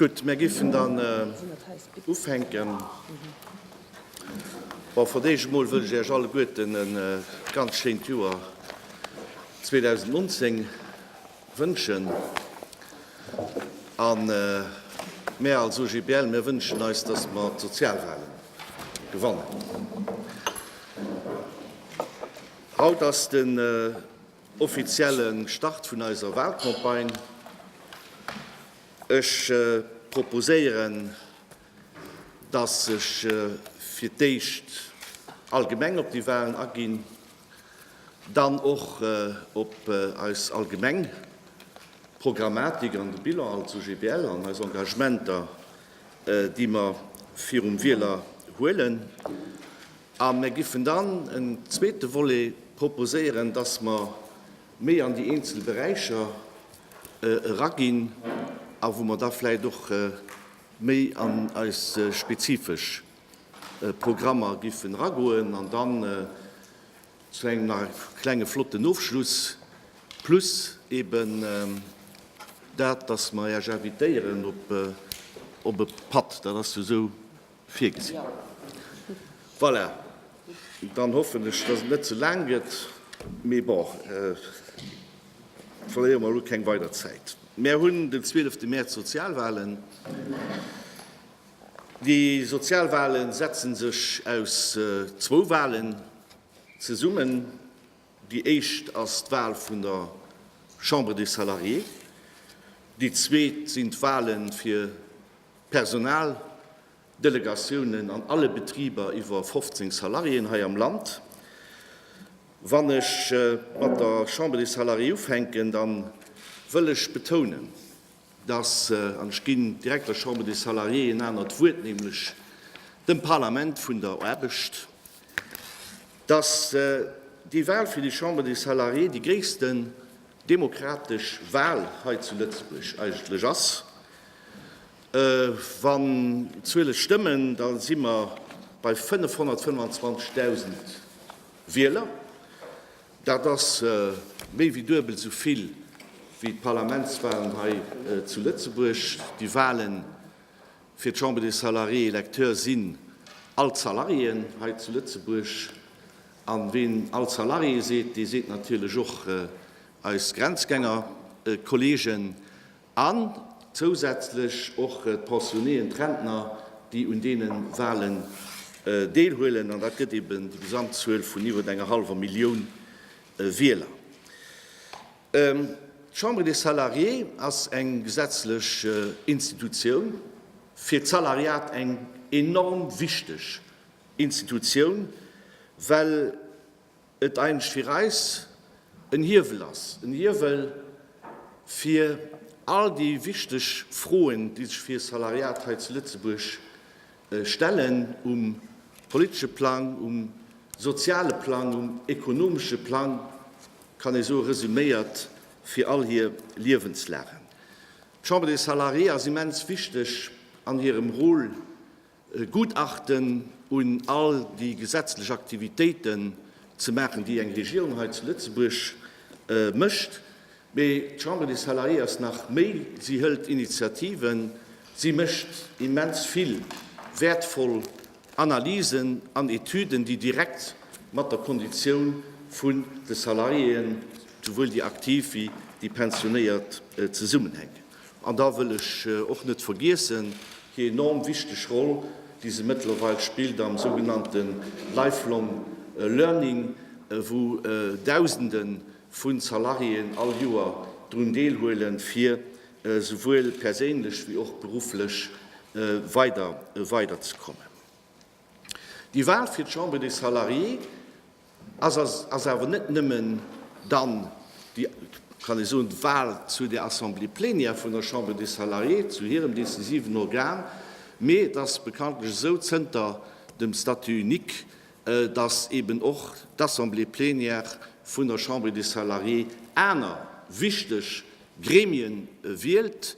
Gutt, mir géifen dann ufänken. Bon, fir d'éischt emol wëll ech Iech alleguerten e ganz schéint Joer 2019. Wënschen. A mär als OGBL, mär wënschen eis, dass mer d'Sozialwahlen gewannen. Haut ass den offizielle Start vun eiser Wahlcampagne. Ech proposéieren, dass ech fir d'éischt allgemeng op déi Wahlen aginn. Dann och op eis allgemeng Programmatik an de Bilan als OGBL an eis Engagementer, déi mer virum Wieler huelen. A mir giffen dann en zweete Volet proposéieren, dass mer méi an déi eenzel Beräicher eraginn a wou mer da vläicht och méi an eis spezifesch Programmer giffen eragoen an dann zu engem nach e klenge flotten Ofschluss plus eben dat, dass mer Äech invitéieren op e Patt. Dat ass jo esou virgesinn. Voilà, dann hoffen ech, dass et net ze laang gëtt, mee bon, verléiere mer elo keng weider Zäit. Mär hunn den 12 Mäerz Sozialwahlen. Déi sozial Wale setzen sech aus zwou Walen zesummen. Déi éischt ass d'Wal vun der Chambre des Salariés. Déi zweet sinn d'Wale fir d'Personaldelegatiounen an alle Betriber iwwer 15 Salariéen hei am Land. Wann ech mat der Chambre des Salariés ufänken, da wëll ech betounen, dass, an ech ginn direkt der Chambre des Salariés en anert Wuert, nämlech dem Parlament vun der Aarbecht, dass déi Wahl fir déi Chambre des Salariés déi gréissten demokratesch Wahl hei zu Lëtzebuerg eigentlech ass. Wann d'Zuele stëmmen, da si mer bei 525.000 Wieler. Dat ass méi wéi duebel esou vill wéi d'Parlamentswalen hei zu Lëtzebuerg. Déi Wale fir d'Chambre des salariés électeurs sinn all d'Salariéen hei zu Lëtzebuerg. A ween all Salarié seet, dee seet natierlech och eis Grenzgängerkolleegen. An zousätzlech och d'Pensionnéen, d'Rentner, déi un deene Walen deelhuelen. An dat gëtt eben déi Gesamtzuel vun iwwer enger hallwer Millioun Wieler. D'Chambre des Salariés ass eng gesetzlech Institutioun, fir d'Salariat eng enorm wichteg Institutioun, well, et eigentlech fir eis en Hiewel ass, en Hiewel fir all déi wichteg Froen, déi sech fir e Salariat hei zu Lëtzebuerg stellen, um politesche Plang, um soziale Plang, um ekonomesche Plang, kann ee soe resuméiert, fir all hir Liewenslagen. D'Chambre des Salariés ass immens wichteg an hirem Rôle, E Gutachten un all déi gesetzlech Aktivitéiten ze maachen, déi eng Regierung hei zu Lëtzebuerg mécht. Mee d'Chambre des Salariés ass nach méi, si hëlt Initiativen, si mécht immens vill wäertvoll Analysen an Etüden, déi direkt mat der Konditioun vun de Salariéen, souwuel déi aktiv wéi déi pensionéiert, zesummenhänken. An da wëll ech och net vergiessen déi enorm wichteg Roll, déi se mëttlerweil spillt am sougenannte Lifelong Learning, wou Dausende vu Salariéen all Joer drun deelhuelen, fir souwuel perséinlech wéi och berufflech weiderzekommen. Déi Wal fir d'Chambre des Salariés Ass ass awer net nëmmen dann déi, kann ee soen, d'Wahl zu der Assemblée plénière vun der Chambre des Salariés, zu hirem decisiven Organ, mee et ass bekanntlech esou zënter dem Statut unique, dass eeben och d'Assemblée plénière vun der Chambre des Salariés aner wichteg Gremien wielt.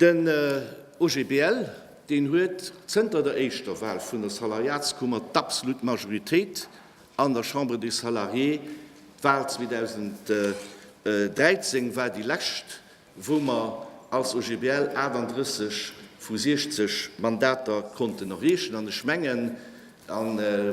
Den OGBL, deen huet zënter der éischter Wal vun der Salariatskummer d'abslut Majoritéit an der Chambre des Salariés. D'Wal 2013 war déi lescht, wou mer als OGBL 38 vu 60 Mandater konnten erreechen. An ech mengen, A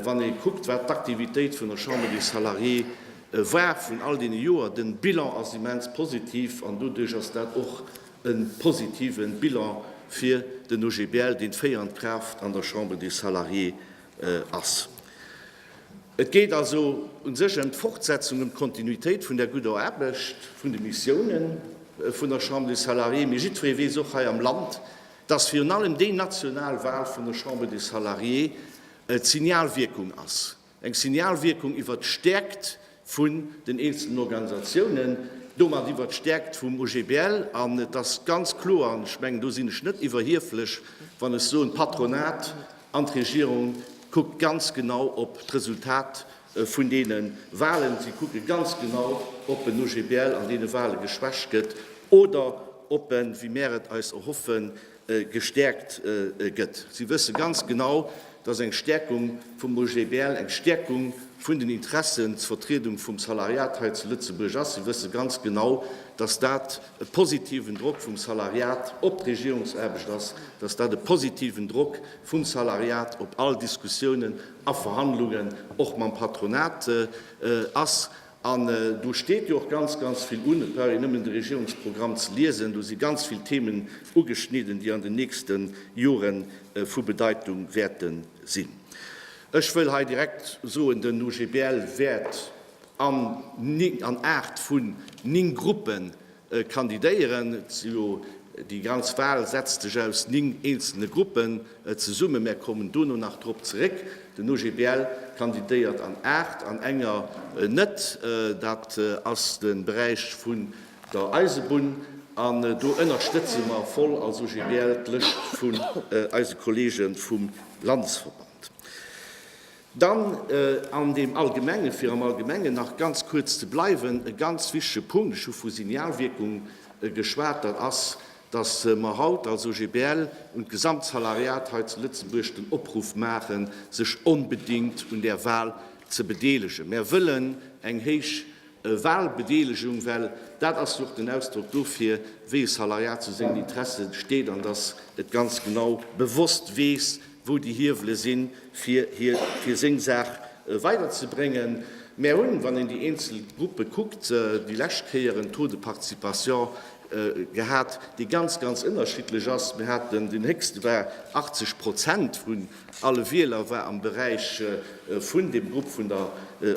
wann ee kuckt, wat d'Aktivitéit vun der Chambre des Salariés war vun all deene Joer, de Bilan ass immens positiv. An doduerch ass dat och e positive Bilan fir den OGBL, deen d'féierend Kraaft an der Chambre des Salariés ass. Et geet also u sech ëm d'Fortsetzung, ëm d'Kontinuitéit vun där gudder Aarbecht, vun de Missiounen vun der Chambre des Salariés. Mee jiddweree weess och hei am Land, dass virun allem déi national Wal vun der Chambre des Salariés d'Signalwierkung ass, eng Signalwierkung iwwert d'Stärkt vu den eenzelnen Organisatiounen, domat iwwert d'Stärkt vum OGBL. An et ass ganz kloer, an ech mengen, do sinn ech net iwwerhieflech, wann ech soen, d'Patronat an d'Regierung kuckt ganz genau op d'Resultat vun deene Wahlen. Si kucke ganz genau, ob en OGBL an deene Wahle geschwächt gëtt oder ob en, wéi mär et eis erhoffen, gestäerkt gëtt. Si wësse ganz genau, dass eng Stäerkung vum OGBL eng Stäerkung vun den Interessensvertriedung vum Salariat hei zu Lëtzebuerg ass. Si wësse ganz genau, dass dat e positiven Drock vum Salariat op d'Regierungsaarbecht ass, dass dat e positiven Drock vum Salariat op all Diskussiounen, a Verhandlungen och mam Patronat ass. An do steet jo och ganz, ganz vill un. Et brauch een nëmmen de Regierungsprogramm ze liesen, do si ganz vill Themen ugeschnidden, déi an den nächste Jore vu Bedeitung wäerte sinn. Ech wëll hei direkt soen, den OGBL wäert an aacht vun ning Gruppen Kandidéieren. Déi ganz Wal setzt sech aus 9 eenzelne Gruppen zesummen. Mär kommen dono nach drop zeréck. Den OGBL kandidéiert an 8 an enger net. Dat ass de Beräich vun der Eisebunn an do ënnerstëtze mer voll als OGBL d'Lëscht vun eise Kollege vum Landesverband. Dann an deem Allgemengen, fir am Allgemengen nach ganz kuerz ze bleiwen, e ganz wichtige Punkt, ech hu vu Signalwierkung geschwat, dat ass, dass mer haut als OGBL un d'Gesamtsalariat hei zu Lëtzebuerg den Opruff maachen, sech onbedéngt un där Wahl ze bedeelegen. Mer wëllen eng héich Wahlbedeelegung, well dat ass jo och den Ausdrock dofir, wéi e Salariat zu sengen Interesse steet an dass et ganz genau bewosst weess, wou déi Hiewele sinn, fir hie, fir seng Saach weiderzebréngen. Mär hunn, wann een déi eenzel Gruppe kuckt, déi lescht Kéier en Taux de participation gehat, dee ganz, ganz ënnerschiddlech ass. Mir haten, deen héchste war 80 Prozent vun alle Wieler war am Beräich vun deem Grupp vun der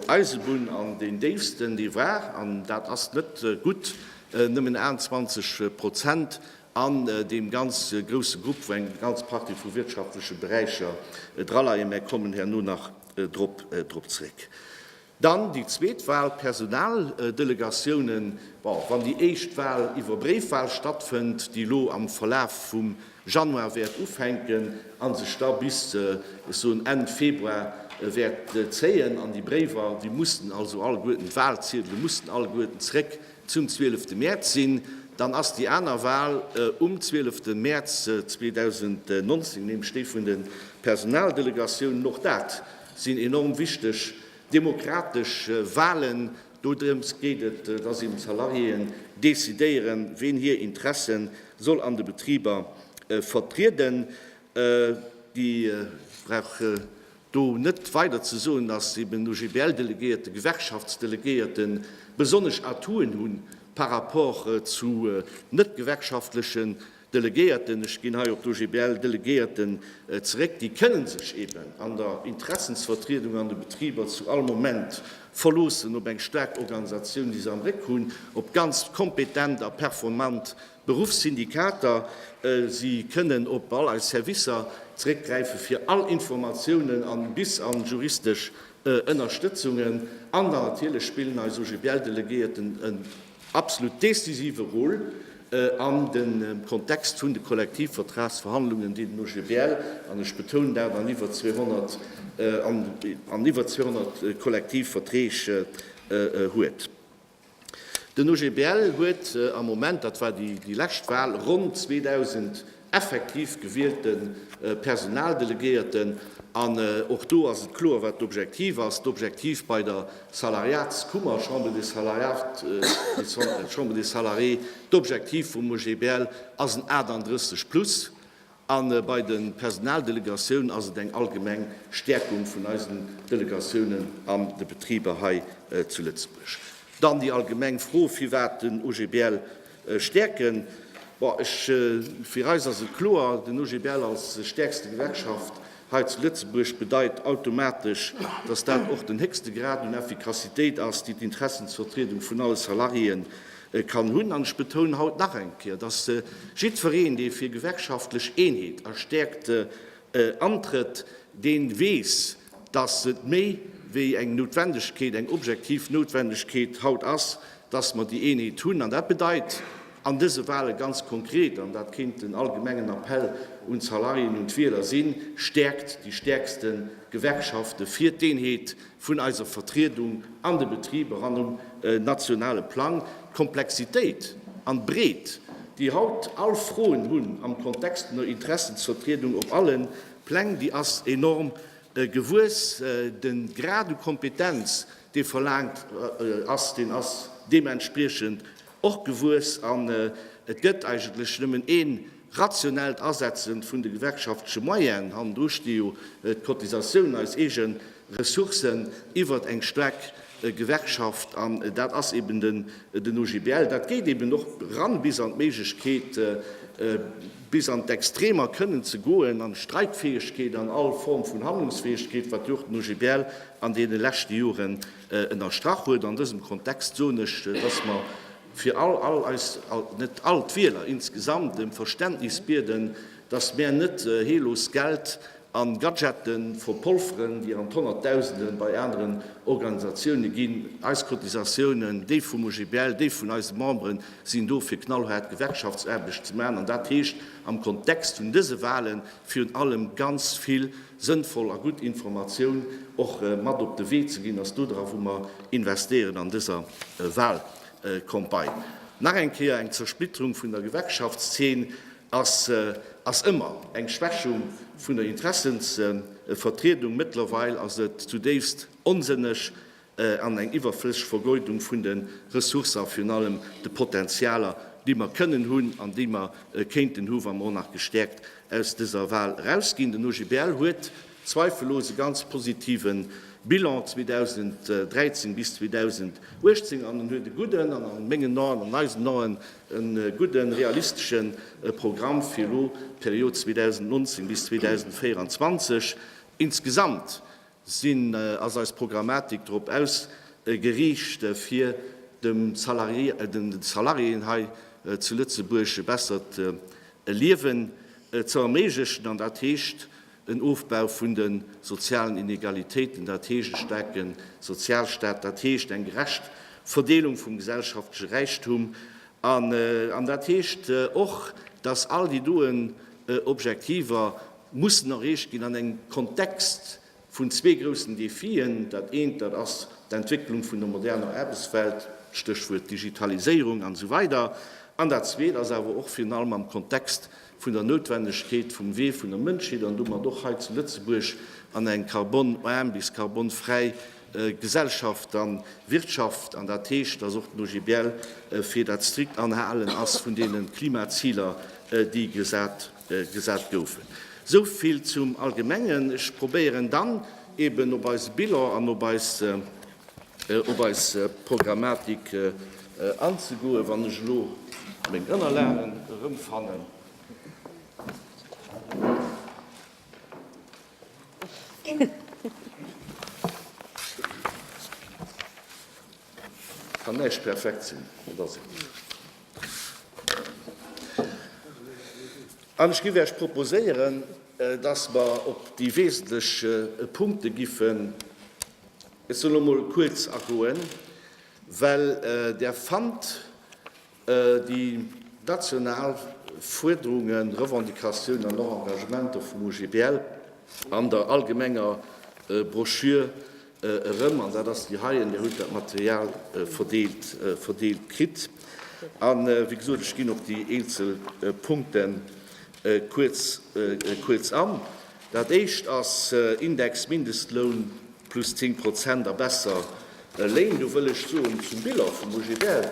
Eisebunn an deen déifsten, dee war, an dat ass net gutt, nëmmen 21 Prozent An deem ganz grousse Grupp, wou eng ganz Partie vu wirtschaftleche Beräicher draleien, mä kommen herno nach drop zréck. Dann déi zweet Wal, d'Personaldelegatiounen. Bon, wann déi éischt Wal iwwer Bréifwal stattfënnt, déi elo am Verlaf vum Januar wäert ufänken a sech da bis, ech soen, Enn Februar wäert zéien, an déi Bréiwer, déi mussen also alleguerten, d'Walziedele mussen alleguerten zréck zum zwielefte Mäerz sinn, dann ass déi aner Wal um zwielefte Mäerz 2019, nämlech déi vun de Personaldelegatiounen. Och dat sinn enorm wichteg demokratesch Walen. Dodrëms geet et, dass eben d'Salariéen decidéieren, ween hir Interesse soll an de Betriber vertrieden. Déi brauche Do net weider ze soen, dass eben OGBL-Delegéierte, Gewerkschaftsdelegéierte besonnesch Atouen hu par rapport zu net-gewerkschaftleche Delegéierten, ech ginn hei op d'OGBL-Delegéierten zeréck, déi kënne sech eben an der Interessensvertriedung an de Betriber zu all Moment verloossen op eng staark Organisatioun, déi se am Réck hunn, op ganz kompetent a performant D'Beruffssyndikater, si kënnen op all eis Servicer zeréckgräife fir all Informatiounen a bis a juristesch Ënnerstëtzungen. An dann natierlech spillen eis OGBL-Delegéierten en absolut decisive Rôle an dem Kontext vun de Kollektivvertragsverhandlungen, déi den OGBL, an ech betounen dat, an iwwer 200 Kollektivverträg huet. Den OGBL huet am Moment, dat war déi lescht Wal, ronn 2.000 effektiv gewielte Personaldelegéierten. An och do ass et kloer, wat d'Objektiv ass. D'Objektiv bei der Salariatskummer, Chambre des Salariés, d'Objektiv vum OGBL ass en 38 plus. A bei de Personaldelegatiounen ass et eng allgemeng Stäerkung vun eisen Delegatiounen an de Betriber hei zu Lëtzebuerg. Dann déi allgemeng Fro, firwat den OGBL stäerken. Bon, ech, fir eis ass et kloer, den OGBL als stäerkste Gewerkschaft hei zu Lëtzebuerg bedeit automatesch, dass dat och den héchste Grad un Effikassitéit ass, déi d'Interessensvertriedung vun alle Salariéen kann hunn. An ech betounen haut nach eng Kéier, dass jiddwereen, dee fir gewerkschaftlech Eenheet a Stäerkte antrëtt, dee weess, dass et méi wéi eng Noutwendegkeet, eng objektiv Noutwendegkeet haut ass, dass mer déi Eenheet hunn. An dat bedeit an dëse Wale ganz konkret, an dat kéint den allgemengen Appell un d'Salariéen, un d'Wieler sinn, Stäerkt déi stäerkste Gewerkschaften fir d'Eenheet! vun eiser Vertriedung an de Betriber an um nationale Plang, d'Komplexitéit an d'Breet, déi haut all Froen hunn am Kontext vun der Interessensvertriedung op alle Pläng, déi ass enorm gewuess. De Grad u Kompetenz, dee verlaangt ass, deen ass deementspriechend och gewuess an et gëtt eigentlech nëmmen ee rationellt Asetze vun de gewerkschaftleche Moyenen. Hannendru sti jo d'Cotisatioun, eis eege Ressourcen iwwert eng staark Gewerkschaft an dat ass eben den OGBL. Dat geet eben och eran bis an d'Méiglechkeet, bis an d'Extremer kënnen ze goen, an d'Streikfäegkeet an all Form vun Handlungsfäegkeet, wat jo och den OGBL an deene leschte Joren ënnerstrach huet. An dësem Kontext soen ech, dass mer fir all all eis, net all, d'Wieler insgesamt em Verständnis bieden, dass mär net heellos Geld a Gadgete verpolferen, déi an d'Honnertdausende bei aneren Organisatiounen ginn. Eis Cotisatiounen, déi vum OGBL, déi vun eise Memberen, sinn do fir knallhaart Gewerkschaftsaarbecht ze maachen. An dat heescht am Kontext vun dëse Wahlen virun allem ganz vill sënnvoll a gutt Informatioun och mat op de Wee ze ginn, ass do dra wou mer investéieren an dëser Walcampagne. Nach eng Kéier, eng Zersplitterung vun der Gewerkschaftszeen ass ëmmer eng Schwächung vun der Interessensvertriedung. Mëttlerweil ass et zudéifst onsënneg, an eng iwwerflësseg Vergeudung vun de Ressourcen a virun allem de Potentialer, déi mer kënnen hunn an déi mer kéinten hunn, wa mer och nach gestäerkt aus dëser Wahl erausginn. Den OGBL huet zweifellos e ganz positive Bilan 2013 bis 2018 an en huet e gudden, an a mengen Aen, an eisen Aen e gudde realistesche Programm fir elo d'Period 2019 bis 2024 insgesamt. Sinn, ass eis Programmatik drop ausgeriicht, fir dem Salarié, den Salariéen hei zu Lëtzebuerg e bessert Liewen ze erméiglechen, an dat heescht en Ofbau vun de sozialen Inegalitéiten, dat heescht e staarke Sozialstaat, dat heescht eng gerecht Verdeelung vum gesellschaftleche Räichtum, an dat heescht och, dass all déi doen Objektiver mussen erreecht ginn an engem Kontext vun zwee groussen Defien. Dat eent, dat ass d'Entwécklung vun der moderner Aarbechtswelt, Stéchwuert Digitaliséierung an esou weider an dat zweet ass awer och virun allem am Kontext vun der Noutwendegkeet vum Wee vun der Mënschheet an domat och hei zu Lëtzebuerg an eng carbon-arm bis carbon-fräi Gesellschaft a Wirtschaft an dat heescht, dass och den OGBL fir dat strikt Anhalen ass vun deene Klimaziler, déi gesat. gesat goufen. Esou vill zum Allgemengen. Ech probéieren dann eben op eise Bilan an op eis, op eis Programmatik anzegoen, wann ech elo meng Ënnerlagen erëmfannen. Kann näischt perfekt sinn, et ass et net. An ech géif Iech proposéieren, dass mer op déi wesentlech Punkte géifen ech soen elo emol kuerz agoen, well Der fannt déi national Fuerderungen, Revendicatiounen an och Engagementer vum OGBL an der allgemenger Broschür Erëm, an dat ass déi heien, Dir hutt dat Material verdeelt kritt. A wéi gesot, ech ginn op déi eenzel Punkte kuerz an. Dat Éischt ass Index Mindestloun plus 10 Prozent a besser Léin. Do wëll ech soen zum Bilan vum OGBL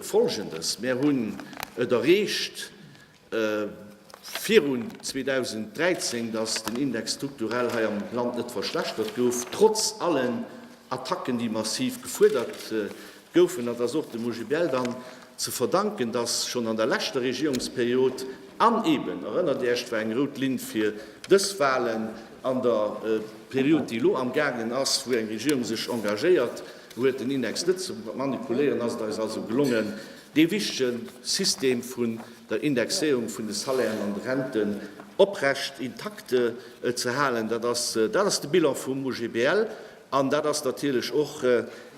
Folgendes, Mir hunn et erreecht, virun 2013, datt den Index strukturell hei am Land net verschlechtert gouf, trotz allen Attacken, déi massiv gefuerdert goufen. Dat ass och dem OGBL dann ze verdanken, datt schonn an der leschter Regierungsperiod, an eeben, erënnert Iech, war eng rout Linn fir dës Wahlen, an der Period, déi elo amgaangen ass, wou eng Regierung sech engagéiert huet, den Index net ze manipuléieren, ass et eis also gelongen, dee wichtege System vun der Indexéierung vun de Salairen an de Renten oprecht, intakte ze halen. Dat ass, dat ass de Bilan vum OGBL an dat ass natierlech och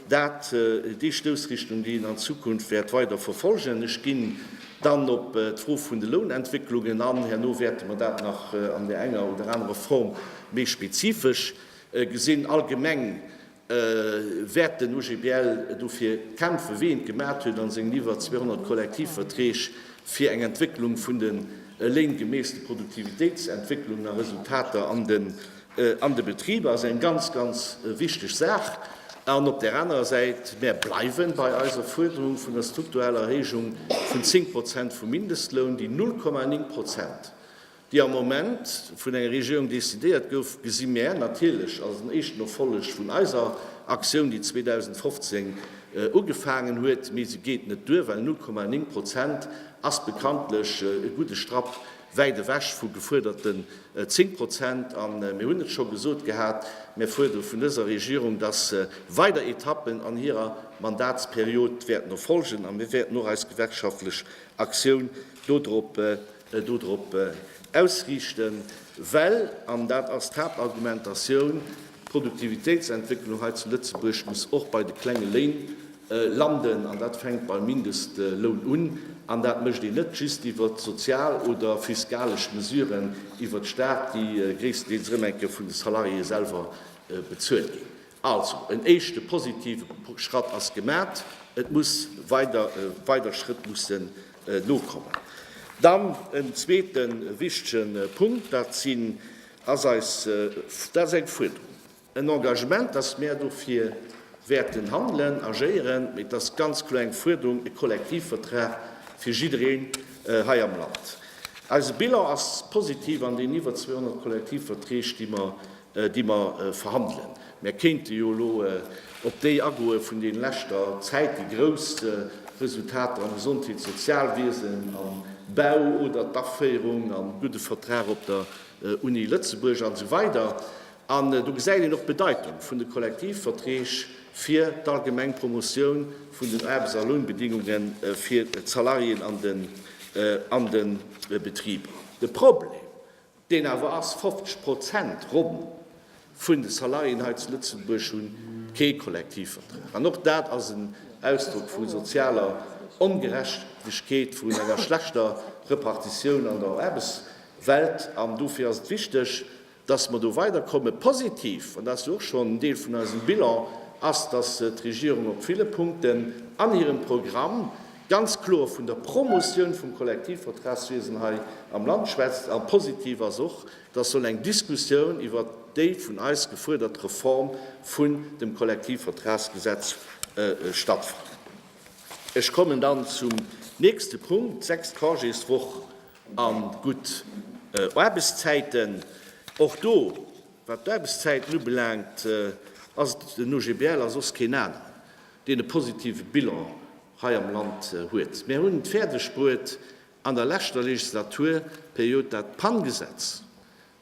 dat, déi Stoussrichtung, déi een an Zukunft wäert weider verfolgen. Ech ginn dann op d'Fro vun de Lounentwécklungen an. Herno wäerte mer dat nach an där enger oder anerer Form méi spezifesch gesinn. Allgemeng wäert den OGBL dofir kämpfen, wéi en et gemaacht huet a sengen iwwer 200 Kollektivverträg, fir eng Entwécklung vun den Léin gemäss de Produktivitéitsentwécklungen a Resultater an de Betriber. Ass eng ganz, ganz wichteg Saach. An op där anerer Säit, mär bleiwe bei eiser Fuerderung vun der struktureller Erhéijung vun 10 Prozent vum Mindestloun, déi 0,9 Prozent déi am Moment vun enger Regierung decidéiert gouf, gesi mär natierlech als en éischten Erfolleg vun eiser Aktioun, déi 2015 ugefaangen huet. Mee se geet net duer, well 0,9 Prozent ass bekanntlech e gudde Strapp wäit ewech vu gefuerderte 10 Prozent. A mir hunn et scho gesot gehat, Mir fuerdere vun dëser Regierung, datt se weider Etappen an hirer Mandatsperiod wäerten erfolgen, a mir wäerten och eis gewerkschaftlech Aktioun dodrop dodrop ausriichten, well, an dat ass d'Haaptargumentatioun, d'Produktivitéitsentwécklung hei zu Lëtzebuerg muss och bei de klenge Léin landen, an dat fänkt beim Mindestloun un, an dat mécht een net just iwwert sozial oder fiskalesch Mesuren iwwert de Staat, déi gréisstendeels erëm eng Kéier vun de Salariéeë selwer bezuelt ginn. Also, en éischte positive Schratt ass gemat, et muss weider, weider Schrëtt mussen nokommen. Dann en zweete wichtige Punkt, dat sinn, ass eis, dat ass eng Fuerderung, en Engagement, dass mär dofir wäerten handelen, agéieren, mee et ass ganz kloer eng Fuerderung, e Kollektivvertrag fir jiddereen hei am Land. Eise Bilan ass positiv an deenen iwwer 200 Kollektivverträg, déi mer déi mer verhandelen. Mer kéinte jo elo op déi agoe vun deene leschter Zäit, déi grouss Resultater am Gesondheets Sozialwiesen, am Bau oder d'Aféierung an de gudde Vertrag op der Uni Lëtzebuerg an esou weider An do gesäit een och d'Bedeitung vun de Kollektivverträg fir d'allgemeng Promotioun vun den Aarbechts a Lounbedingunge fir d'Salariéen an den Betriber. De Problem, deen awer ass 50 Prozent ronn vun de Salariéen hei zu Lëtzebuerg hu kee Kollektivvertrag, an och dat ass en Ausdrock vu sozialer Ongerechtegkeet, vun enger schlechter Repartitioun an der Aarbechtswelt. An dofir ass et wichteg, dass mer do weiderkommen. Positiv, an dat ass jo och schonn en Deel vun eisem Bilan, ass, dass d'Regierung op ville Punkten an hirem Programm ganz kloer vun der Promotioun vum Kollektivvertragswiesen hei am Land schwätzt. A positiv ass och, dass soll eng Diskussioun iwwert déi vun eis gefuerdert Reform vun dem Kollektivvertragsgesetz stattfannen. Ech kommen dann zum nächste Punkt, sechst Congéswoch a gutt Aarbechtszäiten. Och do, wat d'Aarbechtszäiten ubelaangt, ass et den OGBL a soss keen aneren. deen e positive Bilan hei am Land huet. Mär hunn et fäerdeg bruet an der leschter Legislaturperiod dat PAN-Gesetz,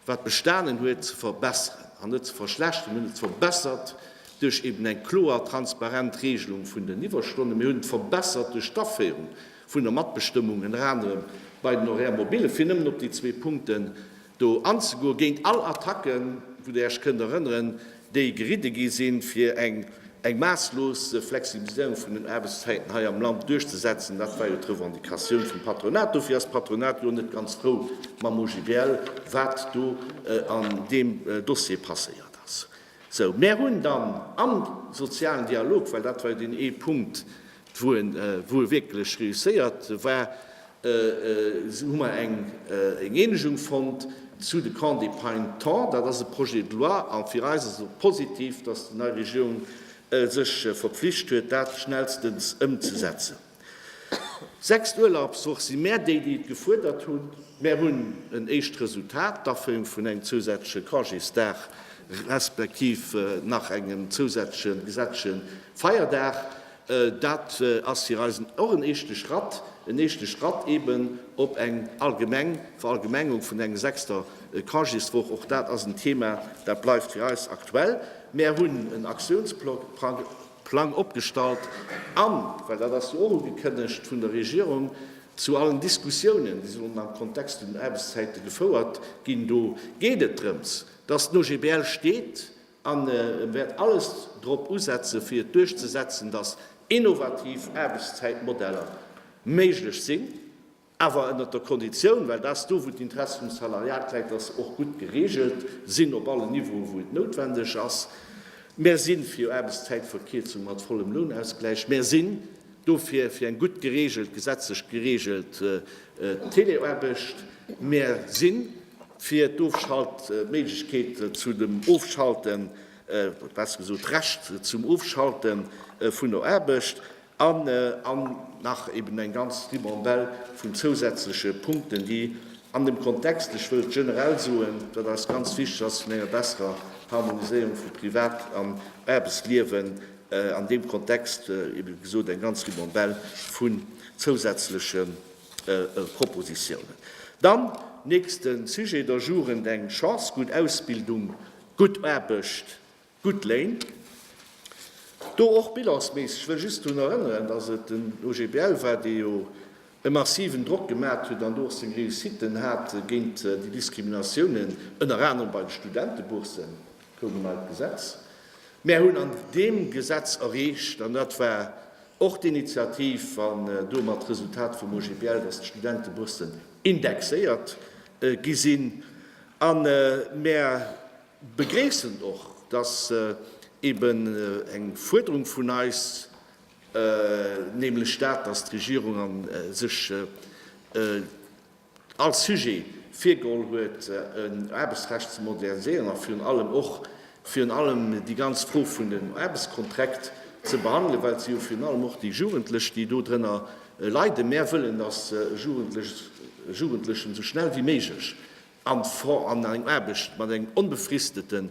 wat bestanen huet, ze verbesseren an net ze verschlechteren. Mir hunn et verbessert duerch eben eng kloer, transparent Regelung vun den Iwwerstonne. Mir hunn et verbessert duerch d'Aféierung vun der Matbestëmmung, ënner anerem bei den Horaires mobiles, fir nëmmen op déi zwee Punkten do anzegoen, géint all Attacken, wou Der Iech kënnt erënneren, déi geridde gi sinn, fir eng eng maasslos Flexibiliséierung vun den Aarbechtszäiten hei am Land duerchzesetzen. Dat war jo d'Revendicatioun vum Patronat. Dofir ass d'Patronat jo net ganz frou mam OGBL, wat do an deem Dossier passéiert ass. Sou, mär hunn dann am sozialen Dialog, well dat war jo deen ee Punkt, Wou e Wuel wierklech reusséiert war, hu mer eng Eenegung fonnt zu de Camps d'épargne temps. Dat ass e Projet de loi a fir eis ass et och positiv, dass déi nei Regierung sech verpflicht huet, dat schnellstens ëmzesetzen. Sechs Urlaubswoch si mär déi, déi et gefuerdert hunn. Mär hunn en éischt Resultat, d'Aféierung vun engem zousätzleche Congésdag respektiv nach engem zousätzleche gesetzleche Feierdag. Dat ass fir eis och en eeschte Schratt, en eeschte Schratt eeben op eng allgemeng Verallgemengung vun eng sechster Congéswoch. Och dat ass en Thema, dat bleift fir eis aktuell. Mär hunn en Aktiounsplang opgestallt an, well dat ass jo och ugekënnegt vun der Regierung, zu allen Diskussiounen, déi sollen am Kontext vun den Aarbechtszäite gefouert ginn, do geet et drëms, dass den OGBL steet, an wäert alles drop usetzen, fir et duerchzesetzen, datt innovativ Aarbechtszäitmodeller méiglech sinn, awer ënnert der Konditioun, well dat ass do, wou d'Interesse vum Salariat läit, datt se och gutt gereegelt sinn op allen Niveauen, wou et noutwendeg ass. Mär si fir Aarbechtszäitverkierzung mat vollem Lounausgläich. Mär si Dofir fir eng gutt geregelt, gesetzlech geregelt Teleaarbecht. Mär si fir d'Ofschaltméiglechkeet zu dem Ofschalten, oder besser gesot d'Recht zum Ofschalten vun der Aarbecht, an an nach eben eng ganz Ribambelle vun zousätzleche Punkten, déi an dem Kontext, ech wëll generell soen, datt eis ganz wichteg ass, vun enger besserer Harmoniséierung vu Privat an Aarbechtsliewen, An deem Kontext, wéi gesot, eng ganz Ribambelle vun zousätzleche Propositiounen. Dann, nächste Sujet, der Jugend eng Chance, gutt Ausbildung, gutt Aarbecht, gutt Léin. Do och bilansméisseg, ech wëll just drun erënneren, dass et den OGBL war, dee jo e massiven Drock gemat huet an do och seng Réussitten hat géint déi Diskriminatiounen, ënner anerem bei de Studenteboursen. gouf en neit Gesetz. Mär hunn an deem Gesetz erreecht, an dat war och d'Initiativ an domat d'Resultat vum OGBL, datt d'Studenteboursen indexéiert gi sinn. A mär begréissen och, datt eeben eng Fuerderung vun eis, nämlech dat, datt d'Regierung sech, Als Sujet virgeholl huet, en Aarbechtsrecht ze moderniséieren a virun allem och virun allem déi ganz Fro vun den Aarbechtskonträkt ze behandelen, well se jo virun allem och déi Jugendlech, déi do drënner leiden. Mär wëllen, dass Jugendlechen esou schnell wéi méiglech an eng Aarbecht mat engem onbefristeten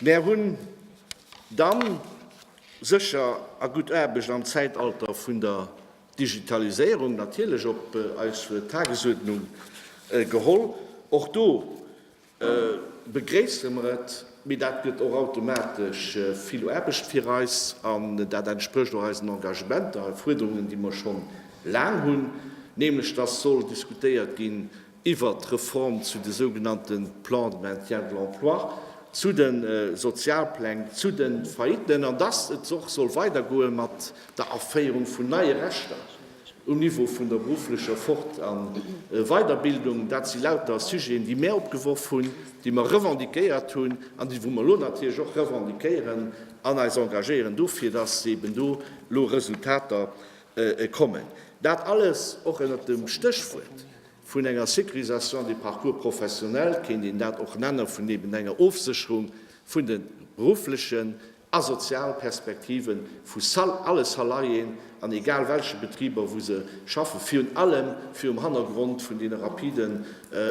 Mär hunn dann sécher a gutt Aarbecht am Zäitalter vun der Digitaliséierung natierlech op eis Tagesuerdnung geholl. Och do begréisse mer et, mee dat gëtt och automatesch vill Aarbecht fir eis an dat entsprécht och eisen Engagementer a Fuerderungen, déi mer scho laang hunn, nämlech dass soll diskutéiert ginn, iwwert d'Reform zu de sougenannte Plans de maintien de l'emploi, zu de Sozialpläng, zu de Faillitten an dass et och soll weidergoe mat der Aféierung vun neie Rechter um Niveau vun der berufflecher Fort a Weiderbildung. Dat si lauter Sujeten, déi mir opgeworf hunn, déi mer revendiquéiert hunn an déi, wou mer elo natierlech och revendiquéieren an eis engagéieren dofir, dass eeben do elo Resultater kommen. Dat alles och ënnert dem Stéchwuert, Vun enger Sécurisation des parcours professionnels kéint een dat och nennen, vun eben enger Ofsécherung vun de berufflechen a sozial Perspektive vu alle Salariéen an egal welche Betriber, wou se schaffen, virun allem virum Hannergrond vun deene rapiden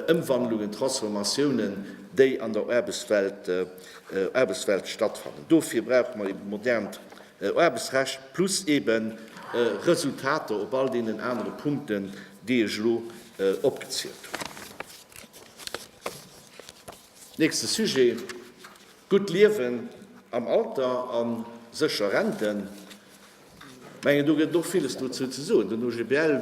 Ëmwandlungen, Transformatiounen, déi an der Aarbechtswelt stattfannen. Dofir brauche mer eben modernt Aarbechtsrecht plus eben Resultater op all deenen anere Punkten, déi ech elo opgezielt hunn. Nächste Sujet, Gutt Liewen am Alter a sécher Renten. Ech mengen, do gëtt et och villes dozou ze soen. Den OGBL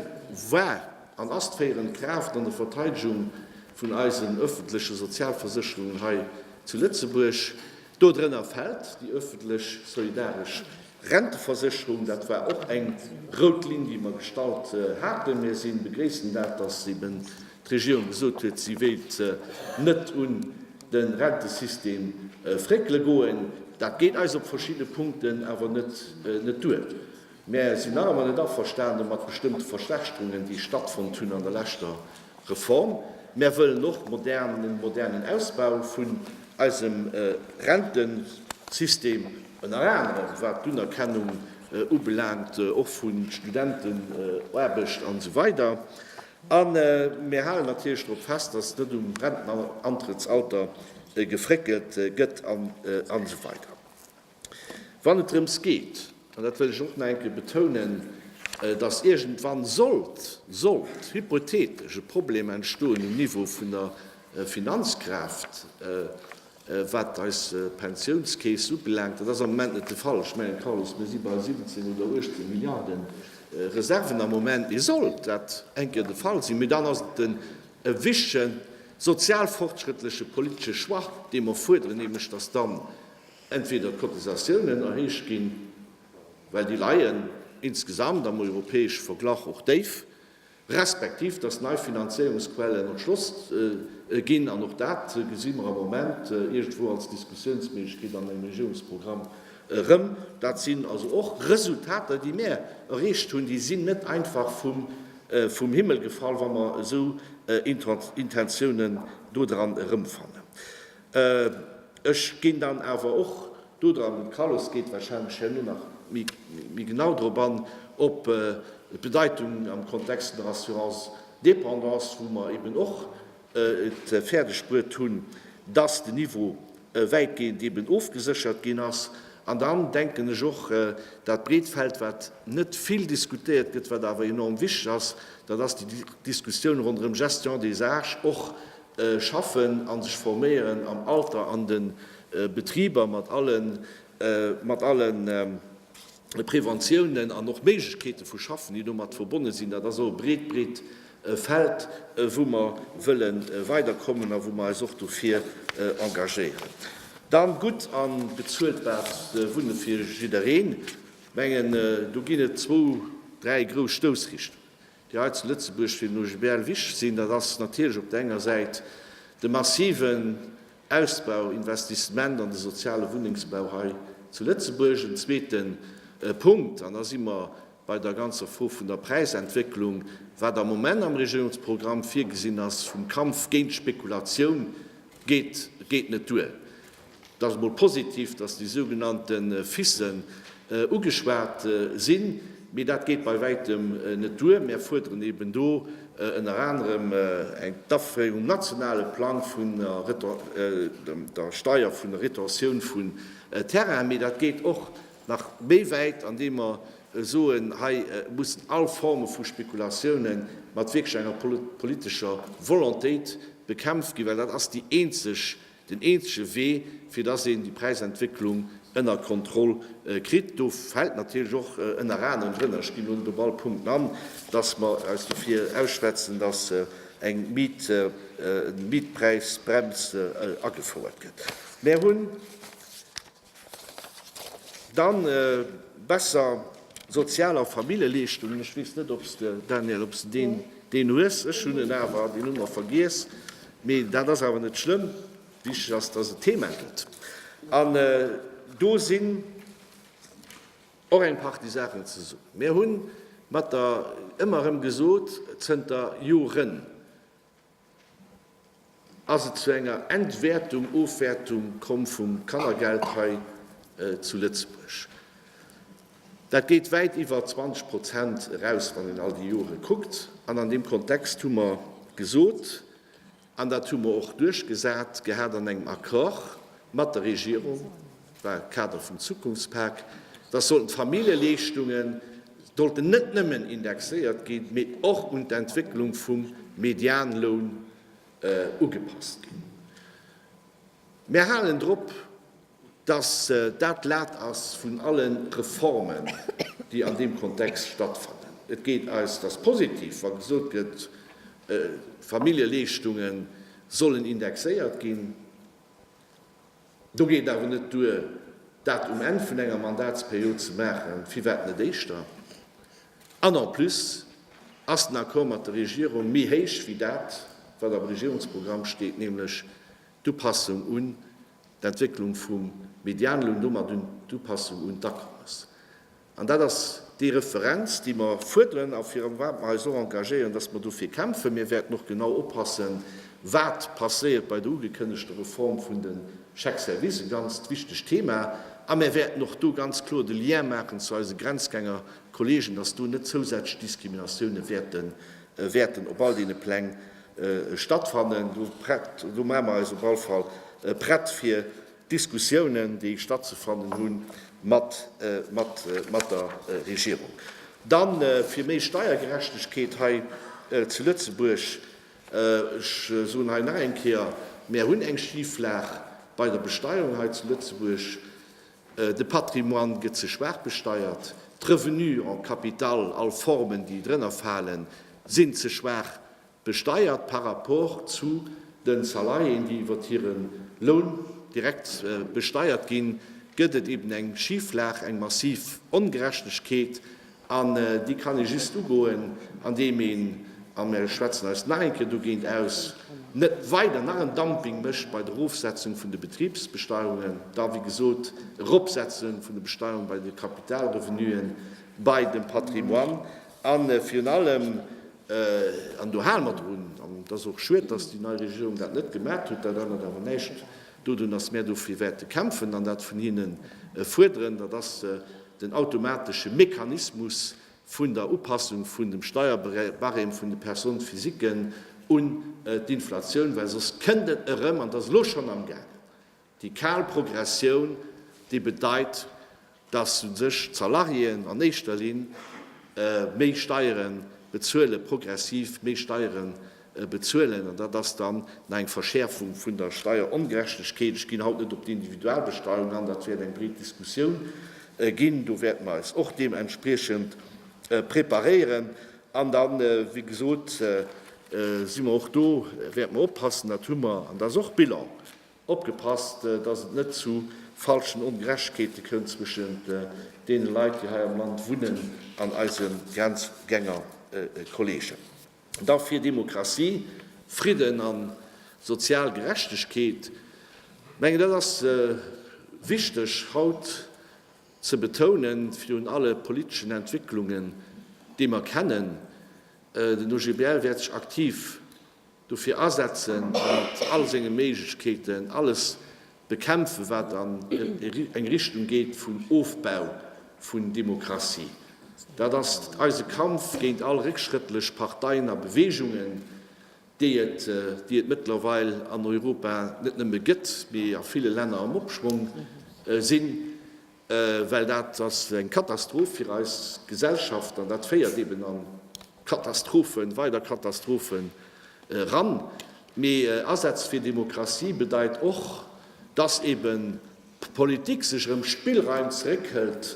war an ass d'féierend Kraaft an der Verteidegung vun eisen öffentleche Sozialversécherungen hei zu Lëtzebuerg. Dodrënner fält déi öffentlech solidaresch Renteversécherung, dat war och eng rout Linn, déi mer gestallt haten. Mir si begréissen dat, dass eben d'Regierung gesot huet, si wéilt net un de Rentesystem fréckele goen. Dat geet eis op verschidde Punkten awer net duer. Mär sinn nach ëmmer net averstane mat bestëmmte Verschlechterungen, déi stattfonnt hunn an der leschter Reform. Mär wëllen och modernen, modernen Ausbau vun eisem Rentensystem, ënner anerem wat d'Unerkennung ubelaangt, och vu Studentenaarbecht an esou weider. A mär halen natierlech drop fest, dass net um Rentenantrëttsalter gefréckelt gëtt an esou weider. wann et drëms geet, an dat wëll ech och nach eng Kéier betounen, dass iergendwann sollt, sollt hypothetesch e Problem entstoen um Niveau vun der Finanzkraaft, wat eis Pensiounskeess ubelaangt, dat ass am Moment net de Fall, ech mengen, Carlos, mir si bei 17 oder 18 Milliarden Reserven am Moment, mee sollt dat eng Kéier de Fall sinn, mee dann ass et en wichtegen sozialfortschrëttleche politesche Choix, dee mer fuerderen, nämlech dass dann entweder d'Cotisatiounen erhéicht ginn, well déi leien insgesamt am europäesche Verglach och déif, respektiv datt nei Finanzéierungsquellen erschloss ginn, an och dat gesi mer am Moment iergendwou als Diskussiounsméiglechkeet an engem Regierungsprogramm erëm. Dat sinn also och Resultater, déi mär erreecht hunn, déi sinn net einfach vum Himmel gefall, wa mer esou Intentiounen do dran erëmfannen. Ech ginn dann awer och dodran, de Carlos geet wahrscheinlech herno nach méi genau drop an, op d'Bedeitung am Kontext vun der Assurance dépendance, wou mer eben och et fäerdegbruet hunn, dass den Niveau wäitgehend eben ofgeséchert ginn ass. An dann denken ech och, dat breet Feld, wat net vill diskutéiert gëtt, wat awer enorm wichteg ass, dat ass déi Diskussioun ronderëm Gestion des arches, och schaffen a sech forméieren am Alter an de Betriber mat alle Preventiounen an och Méiglechkeete vu Schaffen, déi domat verbonne sinn. Dat ass och e breet, breet Feld, wou mer wëlle weiderkommen a wou mer eis och dofir engagéieren. Dann gutt a bezuelbart Wunne fir jiddereen. Mengen do ginn et zwou, dräi grouss Stoussrichtungen. déi hei zu Lëtzebuerg fir den OGBL wichtig sinn, dat ass natierlech op der enger Säit de massiven Ausbau, Investissement an de soziale Wunnengsbau hei zu Lëtzebuerg. En zweete Punkt, an da si mer bei der ganzer Fro vun der Präisentwécklung, wat am Moment am Regierungsprogramm virgesinn ass vum Kampf géint d'Spekulatioun, geet net duer. Et ass emol positiv, dass déi sougenannte FISen ugeschwat sinn, mee dat geet bei wäitem net duer. Mär fuerderen eben do ënner anerem eng d'Aféierung um nationale Plang vun der Steier vun der Retention vun Terrainen, mee dat geet och nach méi wäit, andeem mer soen, hei mussen all Forme vu Spekulatiounen mat wierklech enger politescher Volontéit bekämpft ginn, well dat ass déi eenzeg Den eenzege Wee, fir dass een déi Präisentwécklung ënner Kontroll kritt, do fält natierlech och ënner anerem drënner, ech ginn elo net op all Punkten an, dass mer eis dofir ausschwätzen, dass eng Mietpräisbrems agefouert gëtt. Mär hunn. Dann besser Sozial a Familljeleeschtungen. Ech weess net, ob s de, Daniel, ob s de deen, deen hues. Ech hunn en awer, deen hu mer vergiess. Mee dat ass awer net schlëmm. Wichteg ass, dass et Thema gëtt. An do sinn och eng Partie Saachen ze soen. Mir hu mat der ëmmer erëm gesot, zënter Joren, Ass et zu enger Entwäertung, Ofwäertung komm vum Kannergeld hei zu Lëtzebuerg? Dat geet wäit iwwer 20 Prozent eraus, wann een all déi Jore kuckt. An an deem Kontext hu mer gesot, an dat hu mer och duerchgesat gehat an engem Accord mat der Regierung, war de Kader vum Zukunftspak, dass sollten d'Familljeleeschtunge sollten net nëmmen indexéiert ginn, mee och un d'Entwécklung vum Medianloun ugepasst ginn. Mär halen drop, dass dat d'Lat ass vun alle Reformen, déi an deem Kontext stattfannen. Et geet eis dass positiv, wa gesot gëtt, d'Familljeleeschtunge sollen indexéiert ginn. Do geet et awer net duer, dat um Enn vun enger Mandatsperiod ze maachen, firwat net éischter? An en plus ass den Accord mat der Regierung méi héich wéi dat, wat am Regierungsprogramm steet, nämlech d'Upassung un d'Entwécklung vum Medianloun, domat un d'Upassung un d'Akommes. An dat ass déi Referenz, déi mer fuerderen a virun wat mer eis och engagéieren, dass mer dofir kämpfen. Mir wäerten och genau oppassen, wat passéiert bei der ugekënnegter Reform vun de Chèques-services, e ganzt wichtegt Thema. A mir wäerten och do ganz kloer de Lien maachen zu eise Grenzgänger-Kollegen, dass do net zousätzlech Diskriminatiounen wäerten op all deene Pläng stattfannen. Do maache mer eis op all Fall prett, fir Diskussiounen, déi stattzefannen hu mat der Regierung. Dann fir méi Steiergerechtegkeet hei zu Lëtzebuerg. Ech soen hei nach eng Kéier, Mir hunn eng Schiflag bei der Besteierung hei zu Lëtzebuerg. De Patrimoine gëtt ze schwaach besteiert. D'Revenue en capital, all Formen, déi drënner falen, sinn ze schwaach Besteiert par rapport zu den Salariéen, déi iwwert hiren Loun direkt besteiert ginn, gëtt et eben eng Schiflag, eng massiv Ongerechtegkeet. An déi kann ee just ugoen, an deem een, a mir schwätzen eis nach eng Kéier dogéint aus, net weider nach en Dumping mécht bei der Erofsetzung vun de Betribsbesteierungen, da wéi gesot Eropsetzung vun de Besteierung bei de Kapitalrevenuen, bei dem Patrimoine. A virun allem, an do hale mer drun, an et ass och schued, dass déi nei Regierung dat net gemat huet, dat ännert awer näischt dodun, dass mär dofir wäerte kämpfen an dat vun hinnen fuerderen, dat ass den automatesche Mechanismus vun der Upassung vun dem Steierbarème vun de Personnes physiquen un d'Inflatioun, well soss kënnt et erëm, an et ass elo schonn amgaangen, Déi kal Progressioun, déi bedeit, dass u sech d'Salariéen an éischter Linn méi Steiere bezuelen, progressiv méi Steiere bezuelen, an dat ass dann nach eng Verschäerfung vun der Steierongerechtegkeet. Ech ginn haut net op d'Individualbesteuerung an, dat wäert eng breet Diskussioun ginn. Do wäerte mer eis och deementspriechend preparéieren. An da wéi gesot si mer och do, wäerte mer oppassen, dat hu mer, an dat ass och Bilan, Opgepasst, dass et net zu falschen Ongerechtegkeete kënnt zwëschent deene Leit, déi hei am Land wunnen, an eise Grenzgängerkolleegen. Da fir Demokratie, Fridden a sozial Gerechtegkeet, mengen, dat ass wichteg haut ze betounen, virun alle politeschen Entwécklungen, déi mer kennen. Den OGBL wäert sech aktiv dofir asetzen a mat all senge Méiglechkeeten alles bekämpfen, wat an eng Richtung geet vun Ofbau vun Demokratie. Dat ass eise Kampf géint all réckschrëttlech Parteien a Beweegungen, déi et mëttlerweil an Europa net nëmme gëtt, mee a ville Länner am Opschwong sinn, well dat ass eng Katastroph fir eis Gesellschaft an dat féiert eben an Katastrophen, weider Katastrophen eran. Mee Asätz fir Demokratie bedeit och, dass eben d'Politik sech erëm Spillraim zeréckhëlt,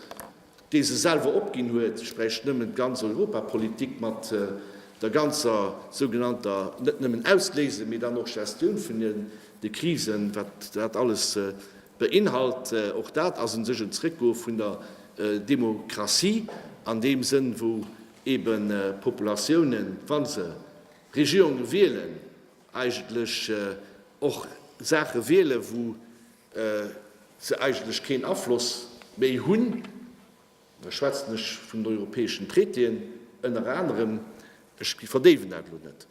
déi se selwer opginn huet. Ech bräicht nëmmen d'ganz Europapolitik mat der ganzer sougenannter, net nëmmen Ausléise, mee dann och Gestioun vun de Krisen, wat dat alles beinhalt. Och dat ass u sech en Zréckgoe vun der Demokratie an deem Sënn, wou eben Populatiounen, wa se Regierunge wielen, eigentlech och Saache wielen, wou se eigentlech keen Afloss méi hunn, da schwätzen ech vun den europäeschen Traitéen ënner anerem, ech verdéiwen dat elo net,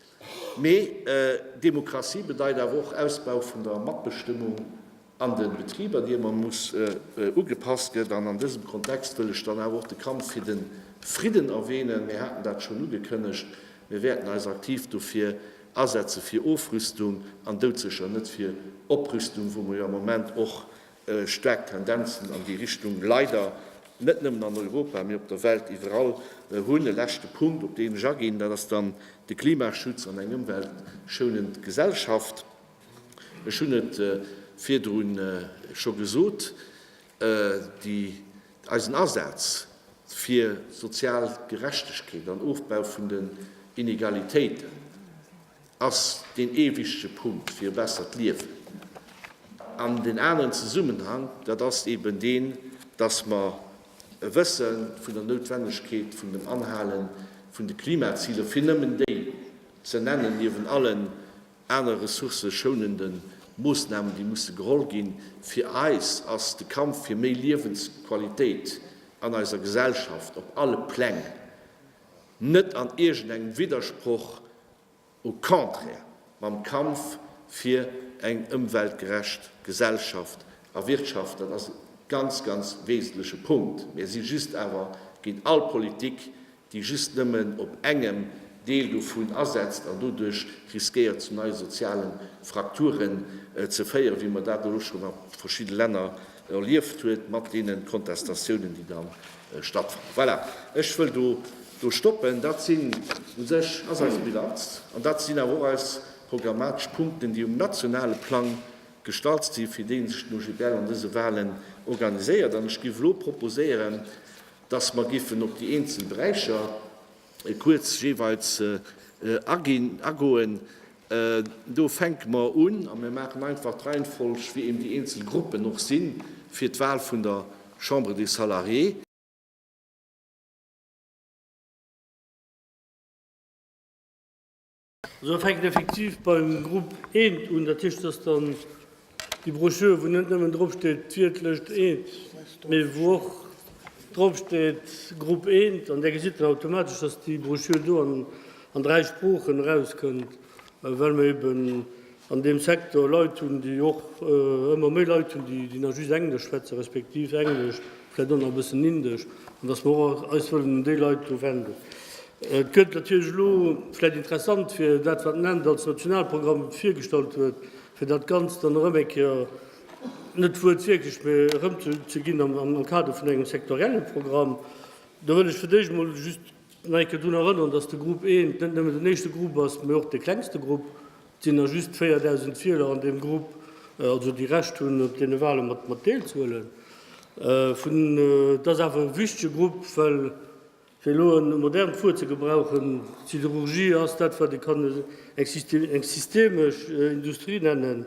mee Demokratie bedeit awer och Ausbau vun der Matbestëmmung. an de Betriber, déi ëmmer muss ugepasst gëtt. An an dësem Kontext wëll ech dann awer och de Kampf fir de Fridden erwähnen. Mir haten dat schonn ugekënnegt, mir wäerten eis aktiv dofir asetzen, fir Ofrüstung an doudsécher net fir Oprüstung, wou mer jo am Moment och staark Tendenzen an déi Richtung leider net nëmmen an Europa, mee op der Welt iwwerall hunn. E leschte Punkt, op deen ech aginn, dat ass dann de Klimaschutz an eng ëmweltschounend Gesellschaft. Ech hunn et virdru scho gesot, eisen Asaz fir sozial Gerechtegkeet an Ofbau vun den Inegalitéiten ass deen ee wichtege Punkt fir e bessert Liewen. An den aneren Zesummenhang, dat ass eben deen, dass mer e wësse vun der Noutwennegkeet vun dem Anhale vun de Klimaziler, fir nëmmen déi ze nennen, niewent allen Aner ressourceschounende Moossnamen, déi musse geholl ginn. Fir eis ass de Kampf fir méi Liewensqualitéit an eiser Gesellschaft op alle Pläng net an iergendengem Widdersproch, au contraire, mam Kampf fir eng ëmweltgerecht Gesellschaft a Wirtschaft. Dat ass e ganz, ganz wesentleche Punkt. Mir si just awer géint all Politik, déi just nëmmen op engem Deel dovun asetzt an doduerch riskéiert zu neie sozialen Frakturen ze féieren, wéi mer dat elo schonn a verschidde Länner erlieft huet, mat deene Contestatiounen, déi da stattfannen. Voilà, ech wëll do stoppen. Dat sinn u sech, ass eis Bilanz an dat sinn awer och eis programmatesch Punkten, déi um nationale Plang gestalzt sinn, fir deeënschten OGBL an dëse Wahlen organiséiert. An ech géif elo proposéieren, Dass mer géifen op déi eenzel Beräicher kuerz jeeweils aginn, agoen. Do fänke mer un a mir maachen einfach d'Reihenfolg, wéi eben déi eenzel Gruppen och sinn, fir d'Wahl vun der Chambre des Salariés. Esou fänkt effektiv beim Grupp Eent un. Dat heescht, dass dann déi Broschür, wou net nëmmen drop steet d'Wiertlëscht Eent, mee wou och drop steet Grupp Eent, an där gesitt een automatesch, dass déi Broschür do an dräi Sproochen erauskënnt, well mer eben an deem Secteur Leit hunn, déi och ëmmer méi Leit hunn, déi déi nach just Englesch schwätzen, respektiv Englesch, vläicht och nach e bëssen Indesch, an dass mer och eis wëllen un déi Leit do wenden. Et gëtt natierlech elo vläicht interessant, fir dat, wat den Ent als Nationalprogramm virgestallt huet, fir dat Ganzt dann erëm eng Kéier, net wuertwierklech, mä erëmzeginn am Kader vun engem sektorielle Programm. Do wëll ech fir d'éischt emol just nach eng Kéier drun erënnern, dass de Grupp I net nëmmen den éischte Grupp ass, mä och de klengste Grupp. Et sinn nach just 4.000 Wieler an deem Grupp, also déi Recht hunn, op deene Wale mat deelzehuelen. Et ass awer e wichtege Grupp, well fir elo e modernt Wuert ze gebrauchen, d'Siderurgie ass dat, wat ee kann eng systemesch Industrie nennen,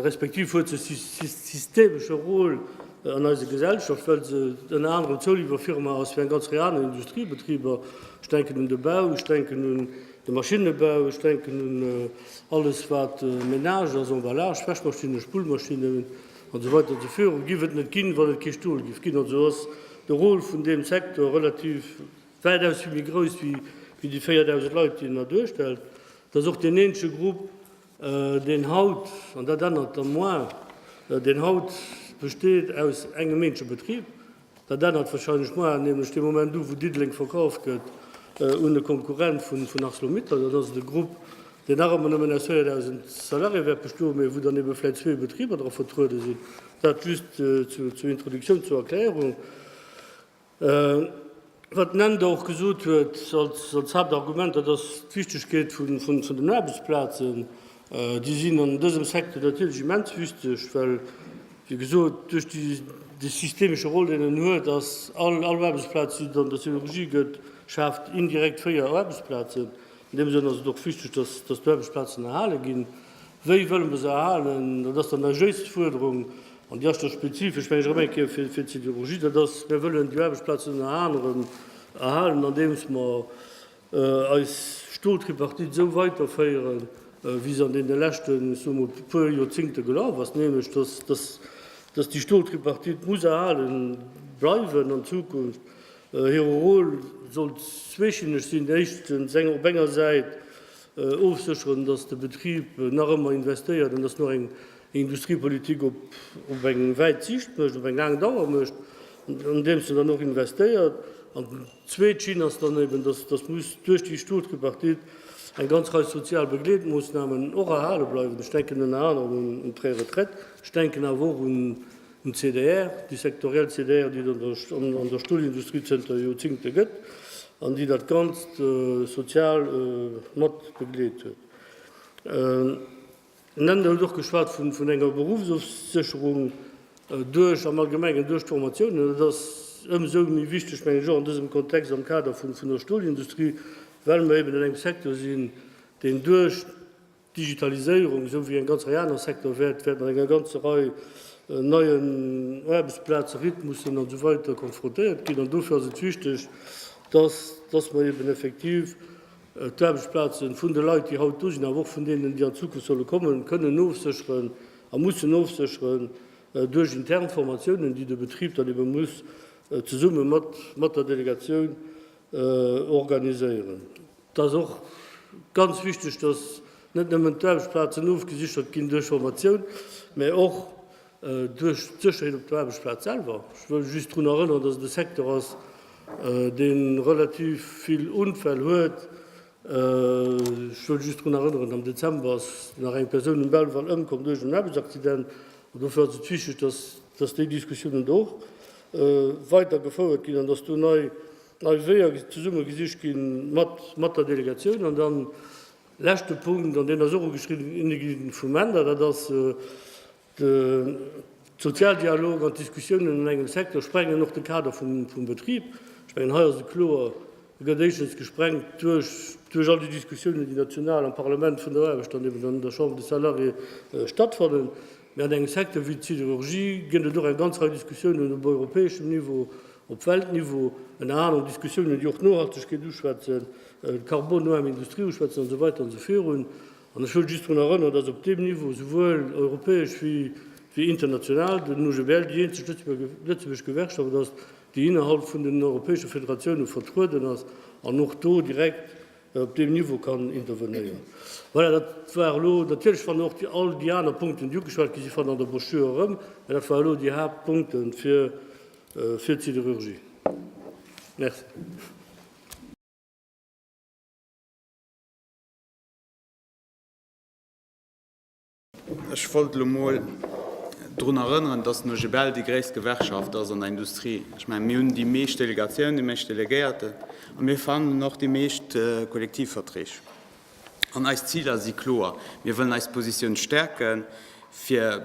respektiv huet se e systemesche Rôle an eiser Gesellschaft, well se ënner anerem Zouliwwerfirma ass fir eng ganz Rei aner Industriebetriber. Ech denken un de Bau, ech denken un De Maschinnebau, ech denken un alles wat Menage ass, Emballage, Wäschmaschinnen, Spullmaschinnen an esou weider ze führen, giff et net ginn, wann et kee Stol giff ginn. Also ass de Rôle vun deem Secteur relativ wäitaus vill méi grouss wéi déi 4.000 Leit, déi en hei duerstellt. Et ass och deen eenzege Grupp, deen haut, an dat ännert da moarn, deen haut besteet aus engem eenzege Betrib, Dat ännert wahrscheinlech moar nämlech dee Moment u wou Diddeleng verkauft gëtt un e Konkurrent vun Arcelor-Mittal. Dann ass et e Grupp deen nach ëmmer nëmmen aus 4.000 Salarié wäert bestoen, mee wou dann ebe vläit zwee Betriber dra vertruede sinn. Dat just zur Introduktioun, zur Erklärung. Wat den Ender och gesot huet als Haaptargument, dat ass d'Wichtegkeet vun den Aarbechtsplazen. Déi sinn an dësem Secteur natierlech immens wichteg, well, wéi gesot, duerch dee systemesche Rôle, deen en huet, ass all Aarbechtsplaz, déi et an der Siderurgie gëtt, schaaft indirekt véier Aarbechtsplazen. An deem Sënn ass et och wichteg, datt déi Aarbechtsplazen erhale ginn. Wéi wëlle mer se erhalen? Dat ass dann eis jéist Fuerderung, an déi ass da spezifesch, meng ech, erëm eng Kéier fir d'Siderurgie. Dat ass, Mir wëllen déi Aarbechtsplazen ënner anerem erhalen, andeems mer eis Stoltripartite esou weiterféieren, wéi se an deene leschten, ech soe mol, puer Joerzéngte gelaf ass, nämlech dass déi Stoltripartite muss erhale bleiwen an Zukunft, hire Rôle soll zweeschinneg sinn, éischtens op enger Säit ofsécheren, dass de Betrib nach ëmmer investéiert an dass en och eng Industriepolitik op eng wäit Siicht mécht, op eng laang Dauer mécht, andeems en dann och investéiert. Zweet Schinn ass dann eben, dass dass muss duerch déi Stot-Tripartite eng ganz Rei sozial Begleetmoosnamen och erhale bleiwen. Ech denken ënner anerem un un d'Préretraite. Ech denken awer och un un d'CDR, déi sektoriell CDR, déi et an der an an der Stolindustrie zënter Joerzingte gëtt an déi dat Ganzt sozial mat begleet huet. Den Ender huet och geschwat vun enger Beruffsofsécherung duerch, am Allgemengen, duerch d'Formatiounen. Dat ass ëmsou méi wichteg, mengen ech, och an dësem Kontext am Kader vun der Stolindustrie, well mer eben an engem Secteur sinn, deen duerch d'Digitaliséierung, esou wéi eng ganz Rei aner Secteur, wäert mat enger ganzer Rei neien Aarbechtsplazen, Rhythmussen an esou weider konfrontéiert ginn. An dofir ass et wichteg, dass mer eben effektiv, d'Aarbechtsplaze vun de Leit, déi haut do sinn, awer och vun deenen, déi an Zukunft solle kommen, kënnen ofsécheren a mussen ofsécheren duerch intern Formatiounen, déi de Betrib dann ebe muss zesumme mat der Delegatioun organiséieren. Et ass och ganz wichteg, dass net nëmmen d'Aarbechtsplazen ofgesichert ginn duerch Formatioun, mä och Duerch d'Sécherheet op der Aarbechtsplaz selwer. Ech wëll just drun erënneren, dass et e Secteur ass, dee relativ vill Unfäll huet. Ech wëll just drun erënneren, am Dezember ass nach eng Persoun um Belval ëmkomm duerch en Aarbechtsaccident. An dofir ass et wichteg, dass dass déi Diskussiounen do och weider gefouert ginn an dass do nei Weeër zesumme gesicht gi mat der Delegatioun. An dann Leschte Punkt, an deen ass och ugeschriwwen gi vum Änder, dat ass de Sozialdialog an d'Diskussiounen an engem Secteur sprengen och de Kader vum Betrib. Ech mengen, hei ass et kloer, e gëtt éischtens gesprengt duerch all déi Diskussiounen, déi national am Parlament vun der Aarbecht an eben an der Chambre des Salariés stattfannen. Mee an engem Secteur wéi d'Siderurgie gëtt et och eng ganz Rei Diskussiounen op europäeschem Niveau, op Weltniveau, ënner aneren Diskussiounen, déi och d'Nohaltegkeet uschwätzen, d'carbonnoarm Industrie uschwätzen an esou weider an esou virun. An ech wëll just drun erënnern, dass op deem Niveau, esouwuel europäesch wéi international, den UGBL déi eenzeg lëtzebuergesch Gewerkschaft ass, déi innerhalb vun den europäesche Federatiounen vertrueden ass an och do direkt, op deem Niveau kann intervenéieren. Voilà, dat war elo natierlech, wann och déi all déi aner Punkten, déi ugeschwat gi si fannen an der Brochure erëm, mä dat war elo déi Haaptpunkte fir, fir d'Siderurgie. Merci. Ech wollt elo mol drun erënneren, dass den OGBL déi gréisst Gewerkschaft ass an der Industrie. Ech mengen, mir hunn déi meescht Delegatiounen, déi meescht Delegéierten a mir verhandelen och déi meescht Kollektivverträg. An eis Ziler si kloer, Mir wëllen eis Positioun stäerken, fir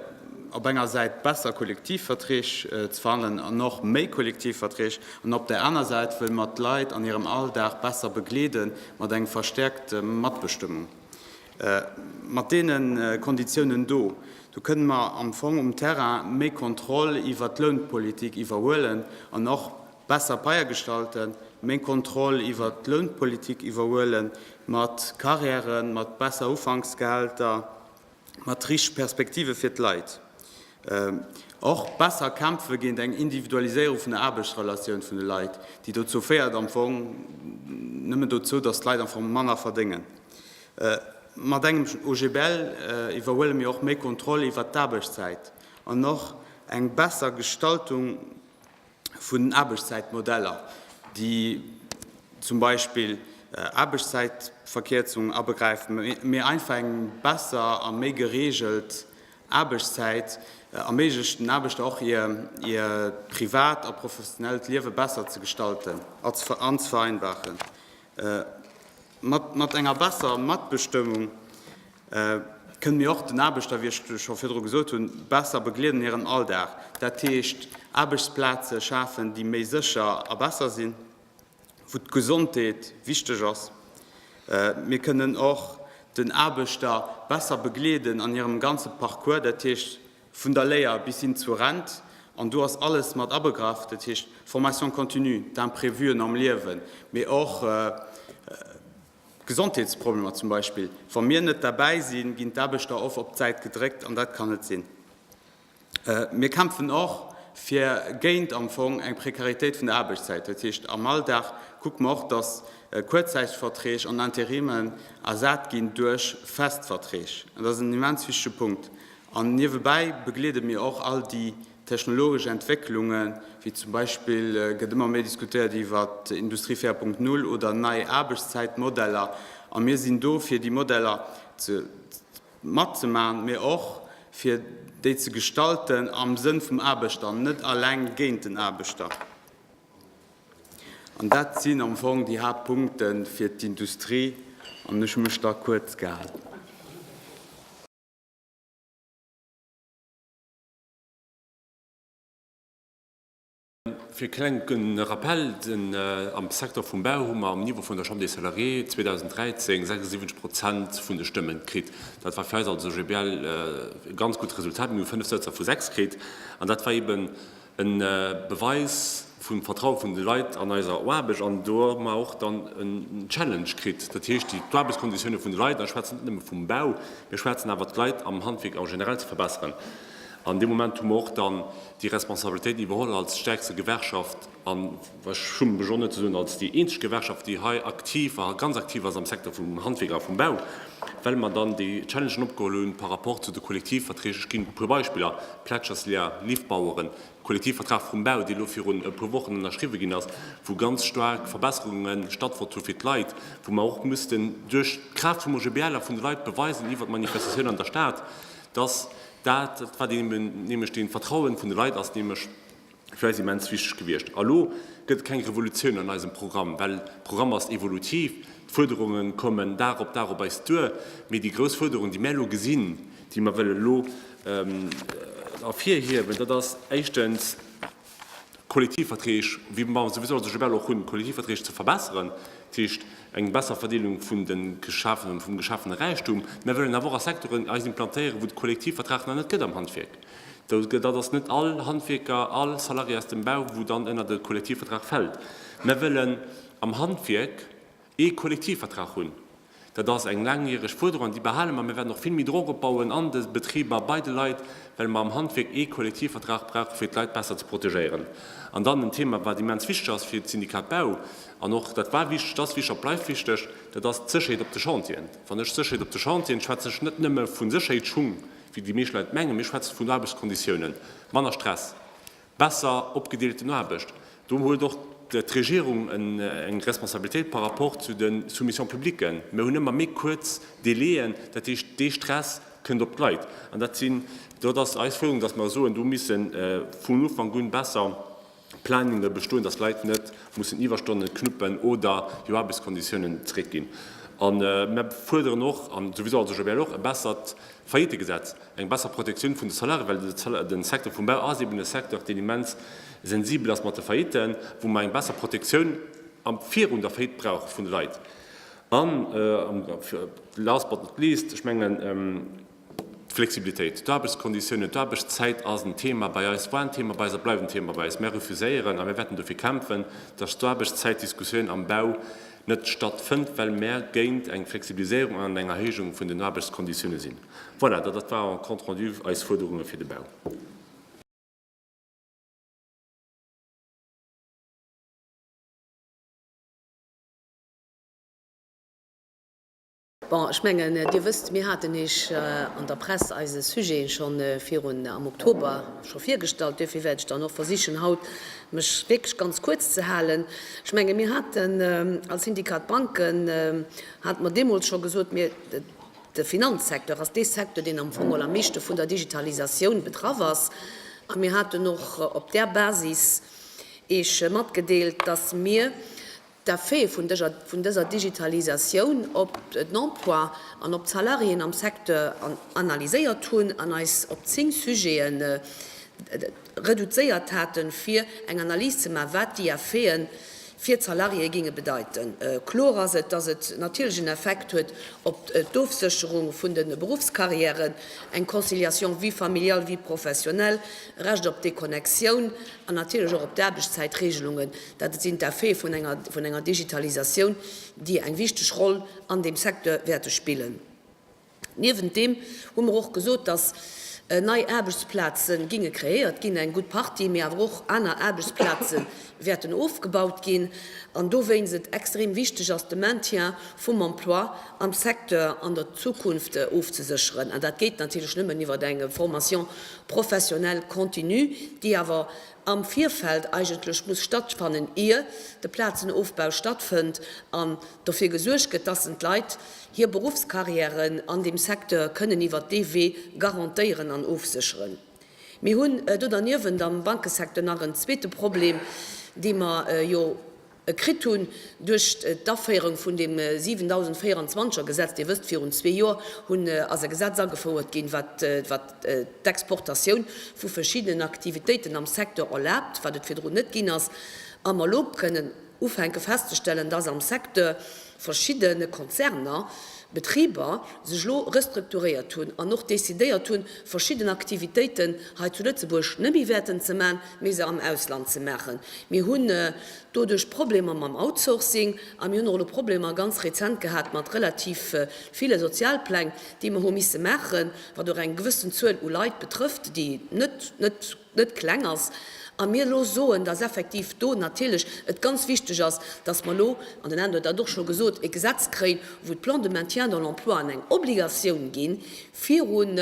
op enger Säit besser Kollektivverträg ze verhandelen an och méi Kollektivverträg an op där aner Säit wëlle mer d'Leit an hirem Alldag besser begleede mat engem verstäerkte Matbestëmmung. Mat deene Konditiounen do, do kënnen mer am Fong um Terrain méi Kontroll iwwert d'Lounpolitik iwwerhuelen an och besser Paie gestalten, méi Kontroll iwwert d'Lounpolitik iwwerhuele mat Carrièren, mat besser Ufanksgehälter, mat richteg Perspektive fir d'Leit. Och besser kämpfe géint eng Individualiséierung vun der Aarbechtsrelatioun vun de Leit, déi dozou féiert am Fong nëmmen dozou, datt d'Leit am Fong manner verdéngen. Mat engem OGBL iwwerhuele mir och méi Kontroll iwwert d'Aarbechtszäit an och eng besser Gestaltung, vun den Aarbechtszäitmodeller, déi zum Beispill Aarbechtszäitverkierzung abegräifen, mee einfach eng besser a méi gereegelt Aarbechtszäit erméiglecht, den Aarbechter och hir privat a professionellt Liewe besser ze gestalten an ze vereinfachen. Mat enger besserer Matbestëmmung kënnen mir och den Aarbechter, wéi ech scho virdru gesot hunn, besser begleeden an hiren Alldag, dat heescht Aarbechtsplaze schafen, déi méi sécher a besser sinn, wou d'Gesondheet wichteg ass. Mir kënnen och den Aarbechter besser begleeden an hirem ganze Parcours, dat heescht vun der Léier bis hin zur Rent, an do ass alles mat abegraff, dat heescht Formation continue, d'Imprevuen am Liewen, mee och, Gesondheetsproblemer zum Beispill. Wa mir net derbäi sinn, ginn d'Aarbechter oft op d'Säit gedréckt an dat kann net sinn. Mir kämpfen och fir géint am Fong eng Prekaritéit vun der Aarbechtszäit. Dat heescht, am Alldag kucke mer och, datt kuerzzäiteg Verträg an Interimen ersat ginn duerch fest Verträg. Dat ass en immens wichtege Punkt. An niewebäi begleede mir och all déi Technologesch Entwécklunge wéi zum Beispill gëtt ëmmer méi diskutéiert iwwer Industrie 4.0 oder nei Aarbechtszäitmodeller. A mir sinn do fir déi Modeller matzemaachen, mee och fir déi ze gestalten am Sënn vum Aarbechter an net eleng géint den Aarbechter. An dat sinn am Fong déi Haaptpunkte fir d'Industrie an ech hu mech da kuerz gehalen. Fir e klenke Rappell, Am Secteur vum Bau hu mer um Niveau vun der Chambre des Salariés 2013 76 Prozent vun de Stëmmen kritt. Dat war fir eis als OGBL e ganz gutt Resultat. Mir hu fënnef Sëtzer vu sechs kritt an dat war eeben e Beweis, vum Vertraue vun de Leit an eiser Aarbecht an do mer och dann en Challenge kritt, dat heescht déi d'Aarbechtskonditioune vun de Leit, an ech schwätzen net nëmme vum Bau, mee ech schwätzen awer d'Leit am Handwierk en général ze verbesseren. An dee Moment hu mer och dann déi Responsabilitéit iwwerholl als stäerkste Gewerkschaft an, ech schummen mech och net ze soen, als déi eenzeg Gewerkschaft, déi hei aktiv a ganz aktiv ass am Secteur vum Handwierk a vum Bau, well mer dann déi Challengen opgeholl hunn par rapport zu de Kollektivverträg. Ech ginn e puer Beispiller, Plätscherslier, Liftbaueren, Kollektivvertrag vum Bau, dee elo virun e puer Wochen ënnerschriwwe ginn ass, wou ganz staark Verbesserunge stattfonnt hu fir d'Leit, wou mer och mussen duerch d'Kraaft vum OGBL a vun de Leit beweisen iwwert d'Manifestatioun an der Stad, dass dat, wat eebe nämlech dee Vertrauen vun de Leit ass, nämlech fir eis immens wichteg gewiescht. A elo gëtt et keng Revolutioun an eisem Programm, well de Programm ass evolutiv, d'Fuerderunge kommen Dag op Dag op eis duer, mee déi grouss Fuerderung, déi mir elo gesinn, déi mer wëllen elo ervirhiewen, dat ass éischtens d'Kollektivverträg, wéi mer souwisou se global och hunn, d'Kollektivverträg ze verbessern, dat heescht eng besser Verdeelung vum geschafene Räichtum. Mer wëllen awer och a Secteuren eis implantéieren, wou de Kollektivvertrag nach net gëtt am Handwierk. Dat ass net all Handwierker, all Salarié aus dem Bau, wou dann ënnert e Kollektivvertrag fält. Mer wëllen am Handwierk ee Kollektivvertrag hunn. Dat ass eng laangjäreg Fuerderung an déi behale mer. Mir wäerten och vill méi Drock opbauen an de Betriber, bei de Leit, well mer am Handwierk ee Kollektivvertrag brauchen, fir d'Leit besser ze protegéieren. An dann en Thema, wat immens wichteg ass fir d'Syndikat Bau an och, dat war wichteg, dat ass wichteg an dat bleift wichteg, dat ass d'Sécherheet op de Chantieren. Wann ech Sécherheet op de Chantieren, schwätzen ech net nëmme vu Sécherheetsschung, wéi déi meescht Leit mengen, mee ech schwätze vun Aarbechtskonditiounen, manner Stress, besser opgedeelten Aarbecht. Do huet och d'Regierung eng Responsabilitéit par rapport zu de Soumissions publiques. Mir hunn ëmmer méi kuerz Délaiën, dat heescht, dee Stress kënnt op d'Leit. An dat sinn, dat ass eis Fuerderung, dass mer soen, do misse vun Ufank un besser Planunge bestoen, dass Leit net mussen Iwwerstonnen knuppen oder hir Aarbechtskonditiounen zréckginn. A mir fuerderen och, an souwisou also Joël och, e bessert Faillitegesetz. Eng besser Protektioun vun de Salarié, well de Secteur vum Bau ass eben e Secteur, deen immens sensibel ass mat de Faillitten, wou mer eng besser Protektioun virun der Faillite brauche vun de Leit. An last but not least, ech mengen, d'Flexibilitéit, d'Aarbechtskonditiounen, d'Aarbechtszäit ass en Thema bei eis, war en Thema bei eis a bleift en Thema bei eis. Mir refuséieren a mir wäerten dofir kämpfen, dass d'Aarbechtszäitdiskussioun am Bau net stattfënnt, well mär géint eng Flexibiliséierung an eng Erhéijung vun den Aarbechtskonditiounen sinn. Voilà, dat war en compte rendu eis Fuerderunge fir de Bau. Bon, ech mengen, Dir wësst, mir haten Iech an der Press eise Sujet scho virun am Oktober scho virgestallt. Duerfir wäert ech dann och versichen, haut mech wierklech ganz kuerz ze halen. Ech menge mir haten als Syndikat Banken, hate mer deemools scho gesot, mir, de Finanzsecteur ass dee Secteur, deen am Fong mol am meeschte vun der Digitalisatioun betraff ass. A mir haten och op där Basis Iech matgedeelt, dass mir D'Effete vun dëser Digitalisatioun op d'Emploi an op d'Salariéen am Secteur analyséiert hunn an eis op zéng Sujete reduzéiert haten, fir eng Analys ze maachen, wat déi Effete fir d'Salariéë géinge bedeiten. Kloer ass et, dass et natierlech en Effekt huet op d'Ofsécherung vun de Beruffscarrièren, eng Conciliation vie familiale-vie professionnelle, Recht op Deconnexioun an natierlech och op d'Aarbechtszäitregelungen. Dat sinn d'Effete vun enger Digitalisatioun, déi eng wichteg Roll an deem Secteur wäerte spillen. Niewent deem hu mer och gesot, datt nei Aarbechtsplaze ginge kreéiert ginn, eng gutt Partie, mee awer och aner Aarbechtsplaze wäerten ofgebaut ginn, an dowéinst et extrem wichteg ass, de Maintien vum Emploi am Secteur an der Zukunft ofzesécheren. An dat geet natierlech nëmmen iwwer eng Formation professionnelle continue, déi awer am Virfeld eigentlech muss stattfannen, ier de Plazenofbau stattfënnt an dofir gesuergt gëtt, dass en d'Leit hir Berufscarrièren an deem Secteur kënnen iwwert dee Wee garantéieren an ofsécheren. Mir hunn do derniewent am Bankesecteur nach en zweete Problem, dee mer jo kritt hunn duerch d'Aféierung vun deem 7024 er Gesetz. Dir wësst, virun zwee Joer hunn ass e Gesetz agefouert ginn, wat wat d'Exportatioun vu verschiddenen Aktivitéiten am Secteur erlaabt, wat et virdrun net ginn ass, a mer elo kënnen ufänke festzestellen, dass am Secteur, verschiddene Konzerner, Betriber sech elo restrukturéiert hunn an och decidéiert hunn, verschidden Aktivitéiten hei zu Lëtzebuerg net méi wäerten ze maachen, mee se am Ausland ze maachen. Mir hunn doduerch Problemer mam Outsourcing a mir hunn och elo Problemer ganz rezent gehat mat relativ ville Sozialpläng, déi mer hu misse maachen, wat och eng gewëssen Zuel u Leit betrëfft, déi net, net. net kleng ass a mir elo soen, dass effektiv do natierlech et ganz wichteg ass, dass mer elo, an den Alain huet dat och scho gesot, e Gesetz kréien, wou d'Plans de maintien dans l'emploi an eng Obligatioun ginn, virun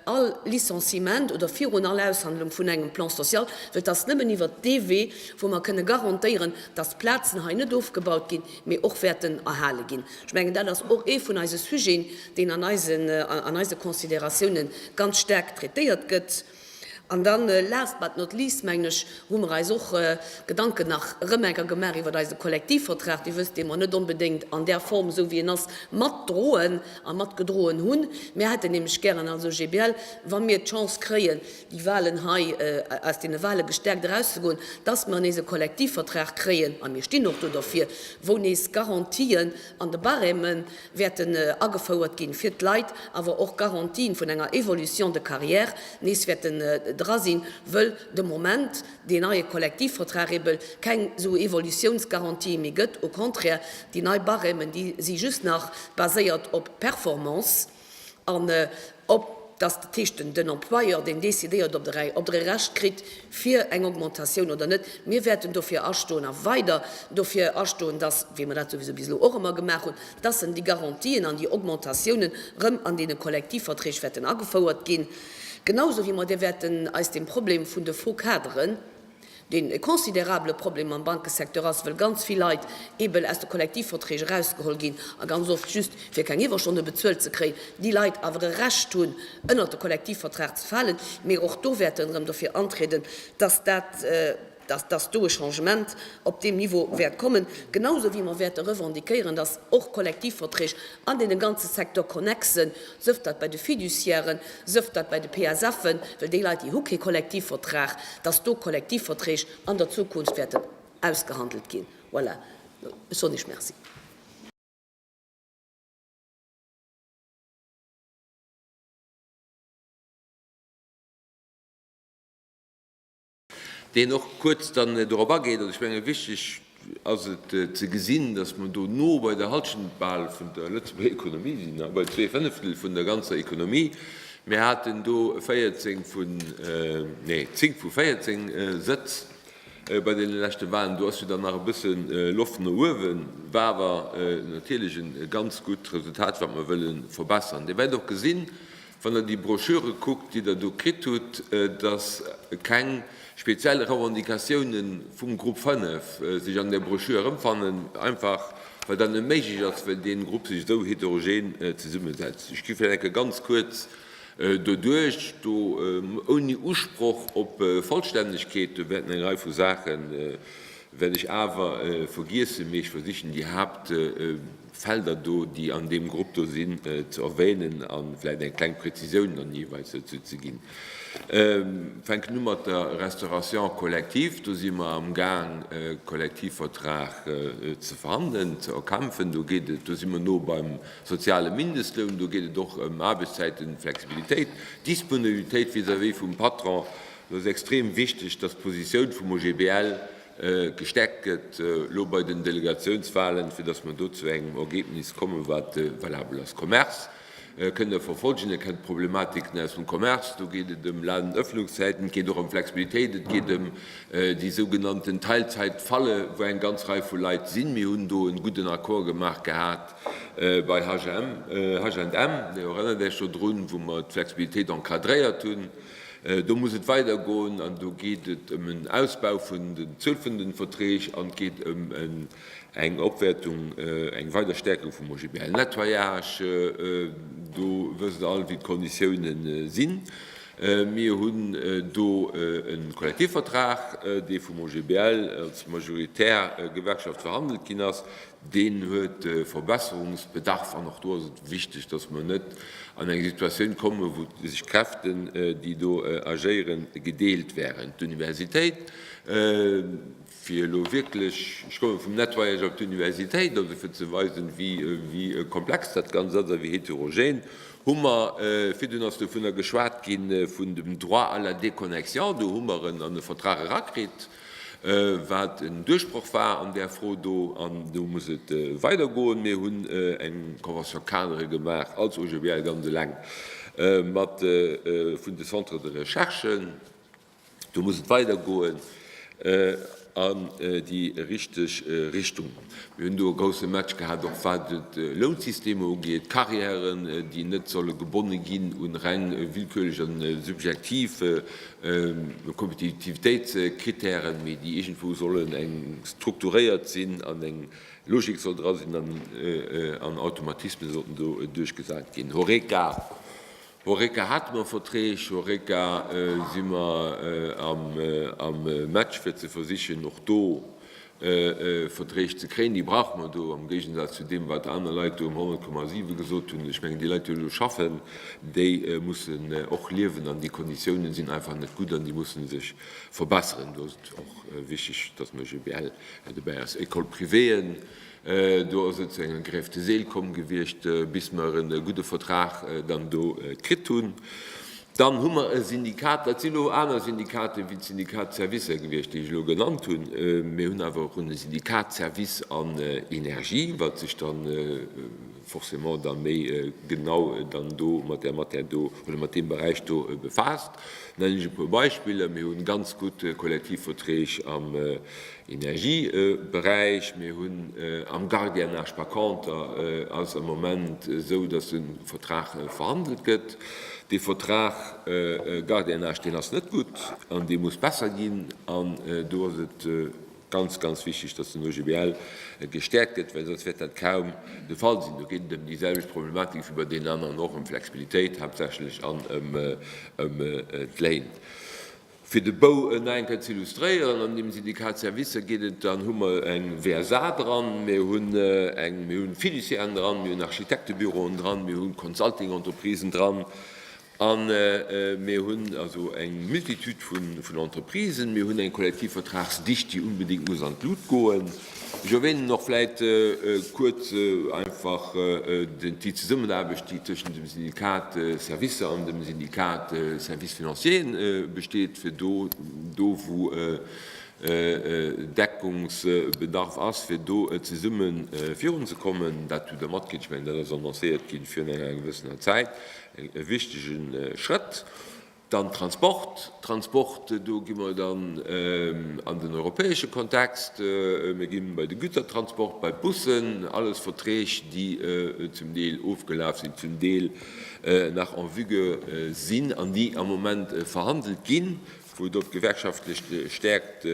all Licenciement oder virun all Aushandlung vun engem Plan social, well et ass nëmmen iwwert dee Wee, wou mer kënne garantéieren, dass d'Plazen hei net ofgebaut ginn, mee och wäerten erhale ginn. Ech mengen, dat ass och ee vun eise Sujeten, deen an eise Considératiounen ganz staark traitéiert gëtt. An dann, last but not least, mengen ech, hu mer eis och Gedanken nach erëm enker gemaach iwwert eise Kollektivvertrag. Dir wësst, dee mer net onbedéngt an där Form, esou wéi en ass, matdroen a matgedroen hunn. Mir hätten nämlech gären als OGBL, wa mir d'Chance kréien, déi Wahlen hei, aus deene Wahle gestärkt erauszegoen, dass mer nees e Kollektivvertrag kréien, a mir stinn och do derfir, wou nees d'Garantien an de Barèmen, wäerten agefouert ginn, fir d'Leit awer och Garantien vun enger Évolution de carrière nees wäerten dra sinn, wëll de Moment deen neie Kollektivvertrag eebe keng esou Évolutionsgarantië méi gëtt. Au contraire, déi nei Barèmen, déi si just nach baséiert op Performance an, Ob dass de Tisch, den den Employeur deen décidéiert, ob de ob der e Recht kritt fir eng Augmentatioun oder net. Mir wäerten dofir astoen a weider dofir astoen, dass, wéi mer dat souwisou bis elo och ëmmer gemaach hunn, dass en déi Garantien an déi Augmentatiounen erëm an deene Kollektivverträg wäerten agefouert ginn, genausou wéi mer de wäerten eis dem Problem vun de Faux-cadren, deen e considerabele Problem am Bankesecteur ass, well ganz vill Leit eben aus de Kollektivverträg erausgeholl ginn a ganz oft just fir keng Iwwerstonne bezuelt ze kréien, déi Leit awer e Recht hunn, ënnert de Kollektivvertrag ze falen. Mee och do wäerten erëm dofir antrieden, dass dat, dass do e Changement op deem Niveau wäert kommen, genau esou wéi mer wäerte revendiquéieren, dass och Kollektivverträg, An dee ganze Secteur connexe, sëft dat bei de Fiduciairen, sëft dat bei de PSFen, well déi Leit, déi hu kee Kollektivvertrag, dass do Kollektivverträg an der Zukunft wäerten ausgehandelt ginn. Voilà, ech soen Iech Merci. deen och kuerz dann dorop ageet, an ech menge wichteg ass et ze gesinn, datt mer do no bei der Hallschent bal vun der Lëtzebuerger Ekonomie sinn, a bei zwee Fënneftel vun der ganzer Ekonomie. Mir haten do 14 vun, nee, 10 vu 14 Sëtz bei deene leschte Wahlen. Do ass jo dann nach e bësse Loft no uewen, war awer natierlech e ganz gutt Resultat, wat mer wëlle verbessern. Dir wäert och gesinn, Wann Der déi Broschüre kuckt, déi Der do kritt hutt, dass keng speziell Revendicatioune vum Grupp 5 sech an där Broschür erëmfannen, einfach well dat net méiglech ass, well dee Grupp sech esou heterogen zesummesetzt. Ech gi vläicht enke ganz kuerz doduerch, do ouni Usproch op Vollstännegkeet. Do wäerten eng Rei vu Saache wäert ech awer vergiessen, mee ech versichen déi Haaptpunkte Felder do, déi an deem Grupp do sinn, ze erwänen a vläicht eng kleng Präzisioun dann jeeweils dozou ze ginn. Ech fänken u mat der Restauration collective. Do si mer amgaang, e Kollektivvertrag ze verhandelen, ze erkämpfen. Do geet et, do si mer no beim soziale Mindestloun. Do geet et och ëm Aarbechtszäitenflexibilitéit, Disponibilitéit vis-à-vis vum Patron. Do ass extrem wichteg, dass d'Positioun vum OGBL Gestärkt gëtt elo bei den Delegatiounswahlen, fir dass mer do zu engem Ergebnis kommen, wat valabel ass. Commerce, kënnt Der verfolgen, Dir kennt d'Problematiken aus dem Commerce. Do geet et ëm Ladenöffnungszeiten, et geet och ëm Flexibilitéit, et geet ëm déi sougenannten Teilzeitfalle, wou eng ganz Rei vu Leit sinn. Mir hunn do e gudden Accord gemaach gehat bei H&M, Dir erënnert Iech dodrun, wou mer d'Flexibilitéit encadréiert hunn. Do muss et weidergoen an do geet et ëm en Ausbau vun der Zuel vun de Verträg an et geet ëm eng Opwäertung, eng weider Stäerkung vum OGBL. Nettoyage, do wësst Der all, wéi d'Konditioune sinn. Mir hunn do e Kollektivvertrag, dee vum OGBL als majoritär Gewerkschaft verhandelt ginn ass. Deen huet Verbesserungsbedarf an och do ass et wichteg, dass mer net an eng Situatioun kommen, wou sech Kräften, déi do agéieren, gedeelt wären. D'Universitéit, fir elo wierklech, ech komme vum Nettoyage op d'Universitéit, also fir ze weisen, wéi komplex dat Ganzt ass a wéi heterogen, hu mer, virdun ass dovunner geschwat ginn, vun dem Droit à la déconnexion, do hu mer en an e Vertrag erakritt, wat en Duerchbroch war an där Fro do, an do muss et weider goen. Mir hunn eng Convention-cadre gemaach als OGBL ganz eleng mat vun de Centres de recherche. Do muss et weider goen an déi richteg Richtung. Mir hunn do e grousse Match gehat, och wat de Lounssystem ugeet, d'Carrièren, déi net solle gebonne ginn un reng willkürlech an subjektiv Kompetitivitéitskritären, mee déi iergendwou sollen eng strukturéiert sinn an eng Logik soll dra sinn an an Automatismen sollten do duerchgesat ginn. Horeca, Horeca hate mer Verträg, Horeca si mer am Match fir ze versichen och do Verträg ze kréien. Déi brauche mer do, am Géigensaz zu deem, wat aner Leit do um 100,7 gesot hunn. Ech mengen, déi Leit, déi elo schaffen, déi mussen och liewen an déi Konditiounen sinn einfach net gutt an déi mussen sech verbesseren. Do ass et och wichteg, dass mer GBL dobäi ass. École-privéeën, do ass et zu enger Grève de zèle komm gewiescht, bis mer e gudde Vertrag dann do kritt hunn. Dann hu mer e Syndikat, dat sinn elo aner Syndikaten wéi d'Syndikat Servicer gewiescht, déi ech elo genannt hunn. Mir hunn awer och e Syndikat Services an Energie, wat sech da forcément da méi genau dann do mat där Matière do oder mat deem Beräich do befaasst. Nennen ech e puer Beispiller, Mir hu ganz gutt Kollektivverträg am Energieberäich. Mir hunn am Gardiennage, par conter ass am Moment esou, datt e Vertrag verhandelt gëtt. Dee Vertrag Gardiennage, deen ass net gutt an dee muss besser ginn. An do ass et ganz, ganz wichteg, datt den OGBL gestäerkt gëtt, well soss wäert dat kaum de Fall sinn. Do geet et ëm déi selwecht Problematik wéi bei deenen aneren och, ëm Flexibilitéit haaptsächlech an ëm d'Léin. Fir de Bou en nach eng Kéier ze illustréieren, an deem Syndicat Services geet et dann, hu mer eng WSA dran, mir hunn eng, mir hunn Fiduciairen dran, mir hunn Architektebüroen dran, mir hunn Consulting-Entreprisen dran a mir hunn also eng Multitude vun Entreprisen. Mir hunn eng Kollektivvertragsdicht, déi unbedéngt muss an d'Lut goen. Ech erwänen och vläit kuerz einfach déi Zesummenaarbecht, déi tëschent dem Syndikat Services an dem Syndikat Services financiers besteet, fir do, wou Deckungsbedarf ass, fir do zesumme virunzekommen. Dat hutt Der matkritt. Ech mengen, dat ass annoncéiert gi virun enger gewëssener Zäit, e wichtege Schrëtt. Dann Transport, Transport, do gi mer dann an den europäesche Kontext, mir gi bei de Gütertransport, bei d'Bussen, alles Verträg, déi zum Deel ofgelaf sinn, zum Deel nach en vigueur sinn an déi am Moment verhandelt ginn, wou do d'gewerkschaftlech Stärkt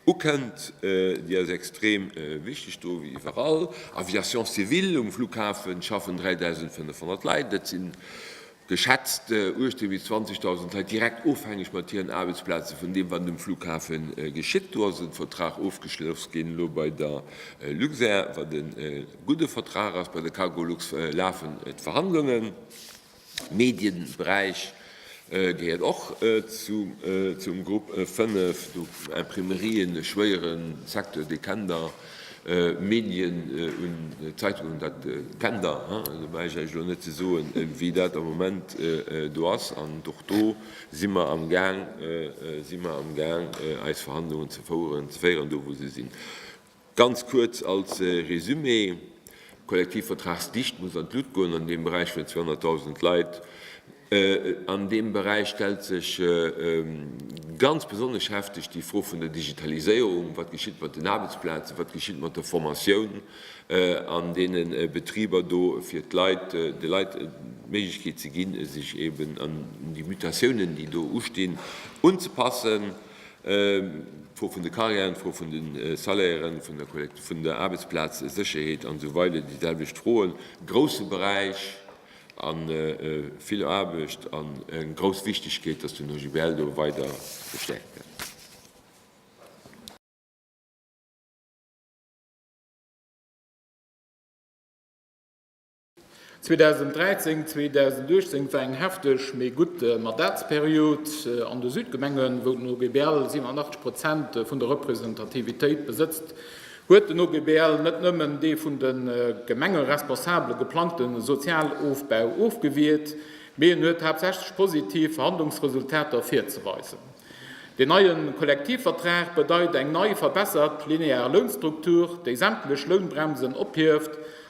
ukënnt, déi ass extrem wichteg do wéi iwwerall. Aviation civile, um Flughafen schaffen 3.500 Leit, dat sinn geschätzt 18 bis 20.000 Leit direkt ofhängeg mat hiren Aarbechtsplaze vun deem, wat um Flughafe geschitt. Do ass e Vertrag ofgeschloss ginn elo bei der Luxair, wat e gudde Vertrag ass. Bei der Cargolux lafen d'Verhandlungen. De Medieberäich gehéiert och zum Grupp 5, do Imprimerien, e schwéiere Secteur, dee kennt Der. Medien un d'Zeitung un dat Tender, do brauch ech Iech elo net ze soen, wéi dat am Moment do ass. An och do si mer am Gaang, si mer am Gaang eis Verhandlungen ze féieren, do wou se sinn. Ganz kuerz als Résumé. D'Kollektivvertragsdicht muss an d'Lut goen an deem Beräich vun 200.000 Leit. An deem Beräich stellt sech ganz besonnesch hefteg déi Fro vun der Digitaliséierung, Wat geschitt mat den Aarbechtsplazen, wat geschitt mat der Formatioun an deene Betriber do, fir de Leit d'Méiglechkeet ze ginn, sech eeben un déi Mutatiounen, déi do ustinn, unzepassen? D'Fro vun de Carrièren, d'Fro vun de Salairen, vun der Aarbechtsplazsécherheet an esou weider, déi selwecht Froen. E grousse Beräich a vill Aarbecht an eng grouss Wichtegkeet, dass den OGBL do weider gestäerkt gëtt. 2013, 2018 war eng hefteg, mee gutt Mandatsperiod an de Südgemengen, wou den OGBL 87 Prozent vun der Representativitéit besëtzt, huet den OGBL net nëmmen dee vun de Gemengeresponsabele geplangte Sozialofbau ofgewiert, mee en huet haaptsächlech positiv Verhandlungsresultater virzeweisen. Deen neie Kollektivvertrag bedeit eng nei verbessert linear Lounstruktur, déi sämtlech Lounbremsen ophieft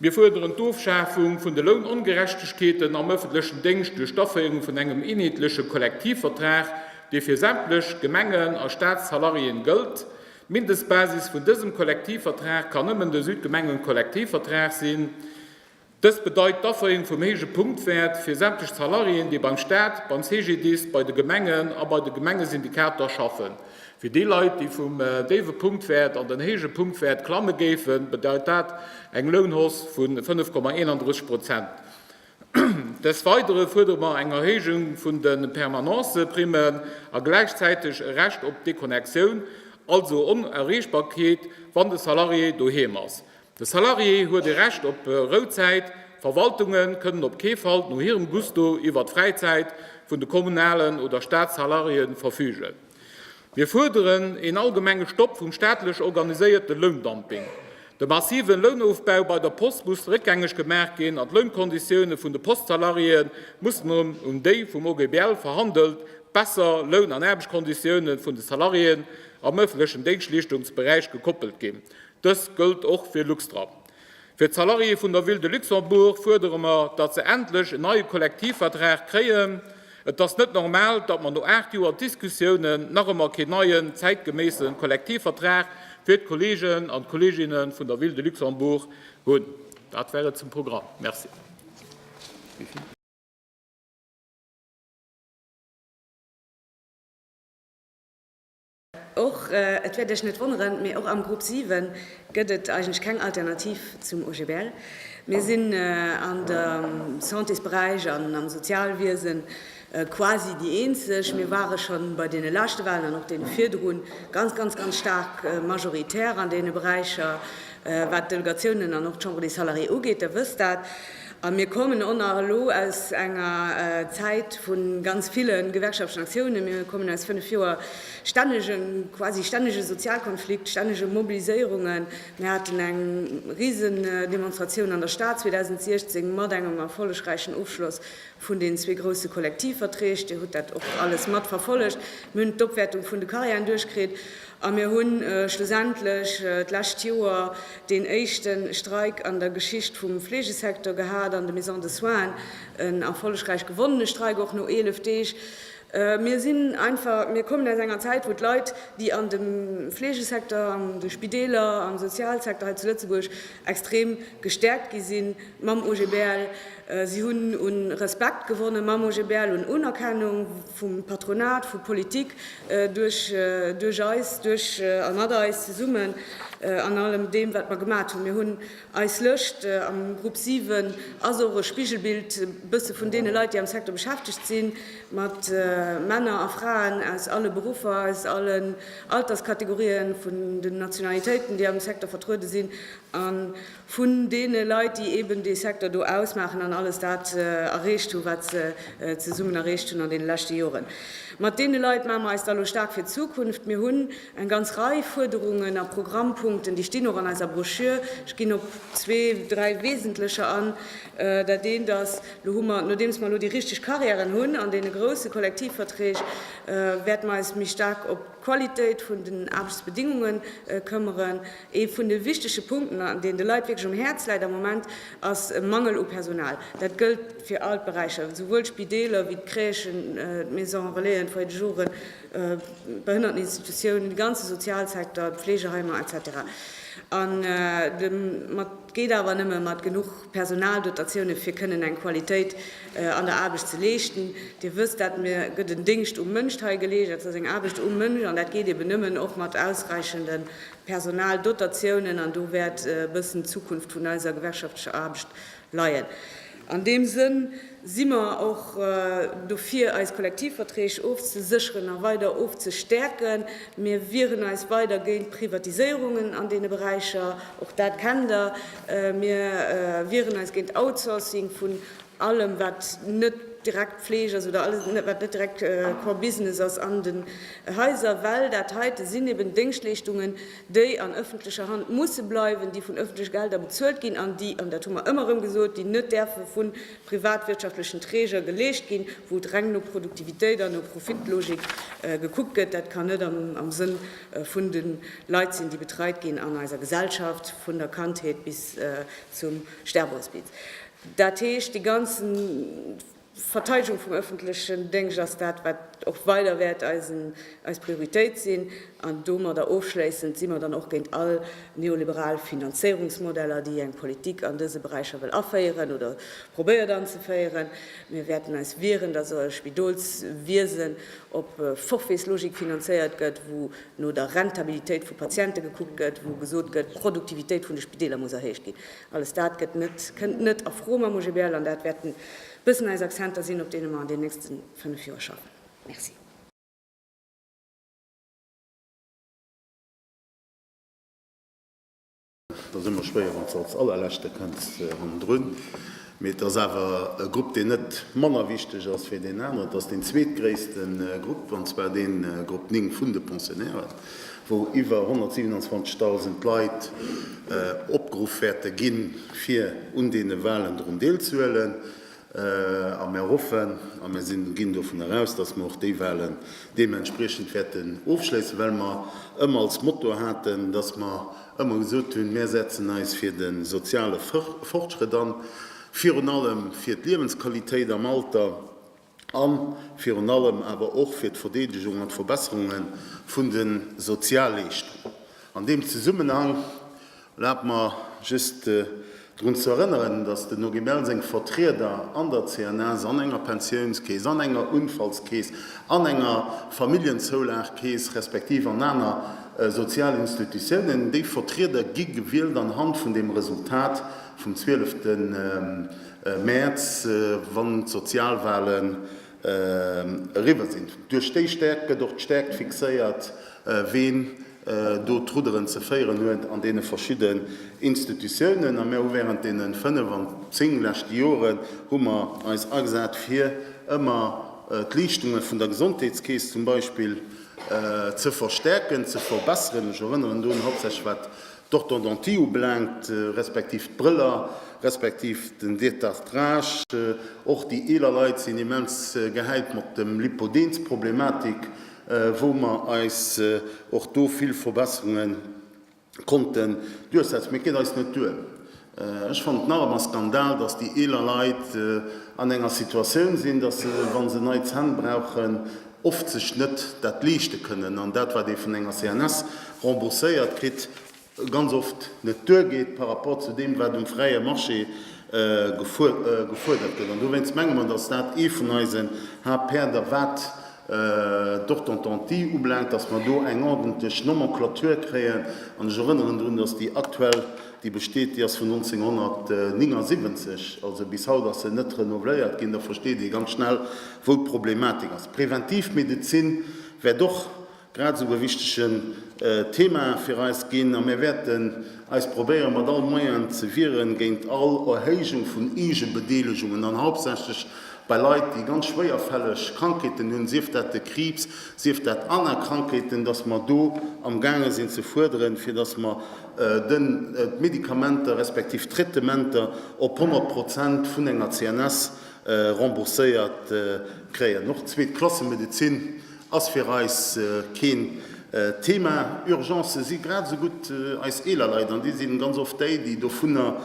Mir fuerderen d'Ofschafung vun de Lounongerechtegkeeten am ëffentlechen Déngscht duerch d'Aféierung vun engem eenheetleche Kollektivvertrag, dee fir sämtlech Gemengen a Staatssalariéen gëllt. D'Mindestbasis vun dësem Kollektivvertrag kann nëmmen de Südgemengenkollektivvertrag sinn. Dëst bedeit d'Aféierung vum héije Punktwäert fir sämtlech Salariéen, déi beim Staat, beim CGDIS, bei de Gemengen a bei de Gemengesyndikater schaffen. Fir déi Leit, déi vum déiwe Punktwäert an den héije Punktwäert klamme géifen, bedeit dat eng Lounhausse vu 5,31 Prozent. Des Weidere fuerdere mer eng Erhéijung vun de Permanence-Primmen a gläichzäiteg e Recht op Deconnectioun, also Onerreechbarkeet, wann de Salarié doheem ass. De Salarié huet e Recht op Rouzäit, Verwaltunge kënnen op kee Fall no hirem Gusto iwwer d'Fräizäit vun de kommunalen oder Statssalariéen verfügen. Mir fuerderen een allgemenge Stopp vum staatlech organiséierte Loundumping. De massive Lounofbau bei der Post muss réckgängeg gemaach ginn an d'Lounkonditioune vun de Postsalariéë mussen un déi vum OGBL verhandelt besser Loun an Aarbechtskonditioune vun de Salariéen am ëffentlechen Déngschtleeschtungsberäich gekoppelt ginn. Dëst gëllt och fir Luxtra. Fir d'Salariéë vun der Ville de Luxembourg fuerdere mer, datt se endlech en neie Kollektivvertrag kréien. Et ass net normal, datt mer no aacht Joer Diskussiounen nach ëmmer keen neien, zäitgeméisse Kollektivvertrag fir d'Kolleegen an d'Kolleeginne vun der Ville de Luxembourg hunn. Dat war et zum Programm. Merci. Och, et wäert Iech net wonneren, mee och am Grupp 7 gëtt et eigentlech keng Alternativ zum OGBL. Mir sinn an der Santésberäich an am Sozialwiese quasi déi eenzeg. Mir ware scho bei deene leschte Wahlen an och deene virdru ganz, ganz, ganz staark majoritär an deene Beräicher, wat d'Delegatiounen an och d'Chambre des Salariés ugeet. Der wësst dat. A mir kommen och nach elo aus enger Zäit vu ganz ville gewerkschaftlechen Aktiounen. Mir kommen aus fënnef Joer stännegem, quasi stännege Sozialkonflikt, stännege Mobiliséierungen. Mir haten eng Risendemonstratioun an der Stad 2016 mat engem erfollegräichen Ofschloss vun den zwee grousse Kollektivverträg. Dir hutt dat och alles matverfollegt. Mir hunn d'Opwäertung vun de Carrièren duerchkritt. A mir hunn schlussendlech d'lescht Joer deen éischte Streik an der Geschicht vum Fleegesecteur gehat an de Maisons de soins, en erfollegräich gewonnene Streik, och no 11 Deeg. Mir sinn einfach, mir kommen aus enger Zäit, wou d'Leit, déi an de Fleegesecteur, an de Spideeler, am Sozialsecteur hei zu Lëtzebuerg extrem gestäerkt gi si mam OGBL. Si hunn u Respekt gewonnen mam OGBL, un Unerkennung. vum Patronat, vu Politik, duerch eis, duerch a mat eis zesummen an allem deem, wat mer gemat hunn. Mir hunn eis Lëscht am Grupp 7, ass och e Spigelbild e bësse vun deene Leit, déi am Secteur beschäftegt sinn, mat Männer a Fraen aus alle Beruffer, aus allen Alterskategorien, vun den Nationalitéiten, déi am Secteur vertruede sinn. vun deene Leit, déi eeben dee Secteur do ausmaachen an alles dat erreecht hunn, wat se zesummen erreecht hunn an deene leschte Joren. Mat deene Leit maache mer eis da lo staark fir d'Zukunft. Mir hunn eng ganz Rei Fuerderungen a Programmpunkten, déi stinn och an eiser Broschür. Ech ginn op zwee, dräi wesentlecher an. Dat eent ass, lo hu mer, nodeems mer elo déi richteg Carrièren hunn an deene grousse Kollektivverträg, wäerte mer eis méi staark op d'Qualitéit vun den Aarbechtsbedingungen këmmeren. Ee vun de wichtege Punkten, deen de Leit wierklech um Häerz läit am Moment, ass e Mangel u Personal. Dat gëllt fir all d'Beräicher, esouwuel d'Spideeler wéi d'Crèchen, d'Maison Relaisen, d'Foyer de jour, d'Behënnerteninstitutiounen, de ganze Sozialsecteur, d'Fleegeheimer, etc. An et geet awer nëmme mat genuch Personaldotatioune fir kënnen eng Qualitéit an der Aarbecht ze leeschten. Dir wësst dat, mir gëtt en Déngscht um Mënsch hei geleescht, dat ass eng Aarbecht um Mënsch, an dat geet eeben nëmmen och mat ausräichende Personaldotatiounen, an do wäert e bëssen d'Zukunft vun eiser gewerkschaftlecher Aarbecht leien. An deem Sënn si mer och dofir, eis Kollektivverträg ofzesécheren a weider ofzestäerken. Mir wieren eis weider géint Privatiséierungen an deene Beräicher, och dat kennt Der. Mir wieren eis géint Outsourcing vun allem, wat net direkt Fleeg ass oder alles, wat net direkt Core Business ass an de Häiser, well dat heite sinn eben Déngschtleeschtungen, déi an ëffentlecher Hand musse bleiwen, déi vun ëffentleche Gelder bezuelt ginn an déi, an dat hu mer ëmmer erëm gesot, déi net däerfe vu privatwirtschaftlechen Träger geleescht ginn, wou et reng no Produktivitéit an no Profitlogik gekuckt gëtt. Dat kann net am Sënn vun de Leit sinn, déi betreit ginn an eiser Gesellschaft, vun der Kandheet bis zum Sterbehospiz. Dat heescht, dee ganzen. D'Verteidegung vum öffentlechen Déngscht ass dat, wat och weider wäert eis Prioritéit sinn. An domadder ofschléissend si mer dann och géint all neoliberal Finanzéierungsmodeller, déi eng Politik an dëse Beräicher wëll aféieren oder probéiert anzeféieren. Mir wäerten eis wieren, dass e Spidolswiesen op Forfaitslogik finanzéiert gëtt, wou no der Rentabilitéit vu Patiente gekuckt gëtt, wou gesot gëtt, d'Produktivitéit vun de Spideeler muss erhéicht ginn. Alles dat gëtt net, kënnt net a Fro mam OGBL an dat wäert en bëssen eis Accenter sinn, op deene mer an den nächste fënnf Joer schaffen. Merci. Et ass ëmmer schwéier, wann s de als Allerleschte kënns hannendrun. Mee et ass awer e Grupp, deen net manner wichteg ass wéi deen aneren. Et ass deen zweetgréisste Grupp, an zwar dee Grupp 9 vun de Pensionnairen. wou iwwer 127.000 Leit opgeruff wäerte ginn, fir un deene Walen drun deelzehuelen. A mir hoffen a mir sinn, ginn dovun eraus, dass mir och déi Walen deementspriechend wäerten ofschléissen, well mer ëmmer als Motto haten, dass mer ëmmer gesot hunn, Mir setzen eis fir de soziale Fortschrëtt an, virun allem fir d'Liewensqualitéit am Alter. A virun allem awer och fir d'Verdeedegung an d'Verbesserunge vun de Sozialleeschtungen. An deem Zesummenhang erlaabt mer just drun ze erënneren, dass den Original seng Vertrieder an der CNS, an enger Pensiounskeess, an enger Unfallskeess, an enger Familljenzoulagkeess, respektiv an aner Sozialinstitutiounen, déi Vertrieder gi gewielt anhand vun deem Resultat vum 12. Mäerz, wann d'Sozialwahlen eriwwer sinn. Duerch déi Stäerkt gëtt och d'Stäerkt fixéiert, ween do d'Rudderen ze féieren huet an deene verschidden Institutiounen. A mir hu während deene fënnef an zéng leschte Joren hu mer eis agesat, fir ëmmer d'Leeschtunge vun der Gesondheetskeess zum Beispill ze verstäerken, ze verbesseren. Ech erënneren do un hauptsächlech wat d'Orthodontie ubelaangt, respektiv d'Brëller, respektiv den Détartrage. Och déi eeler Leit sinn immens gehäit mat dem Lipodensproblematik, wou mer eis och do vill Verbesserunge konnten duerchsetzen. Mee et geet eis net duer, Ech fannen et nach ëmmer Skandal, dass déi eeler Leit an enger Situatioun sinn, dass se, wa se nei Zänn brauchen, oft sech net dat leeschte kënnen an dat, wat ee vun enger CNS rembourséiert kritt, ganz oft net duergeet par rapport zu deem, wat um fräie Marché gefuerdert gëtt. An dowéinst menge mer, dass dat ee vun eisen Haaptpäerder, wat d'Orthontntie ublaangt, dass mer do eng ordentlech Nomenclature kréien. An ech erënneren drun, dass déi aktuell, déi besteet, déi ass vun 1979. Also bis haut ass se net renouveléiert ginn. Da versteet ee ganz schnell, wou d'Problematik ass. D'Preventivmedezin wäert och grad esou e wichtige Thema fir eis ginn. A mir wäerten eis probéieren, mat all Moyen ze wieren géint all Erhéijung vun Eegebedeelegungen, an hauptsächlech Bei Leit, déi ganz schwéierfälleg Krankheeten hunn, sief dat de Kriibs, sief dat aner Krankheeten, dass mer do amgaange sinn ze fuerderen, fir dass mer d'Medikamenter respektiv d'Traitementer op 100 Prozent vun enger CNS rembourséiert kréien. Och zweet Klasse Medezin ass fir eis keen Thema. Urgencë si grad esou gutt eis eeler Leit, an déi si ganz oft déi, déi dovunner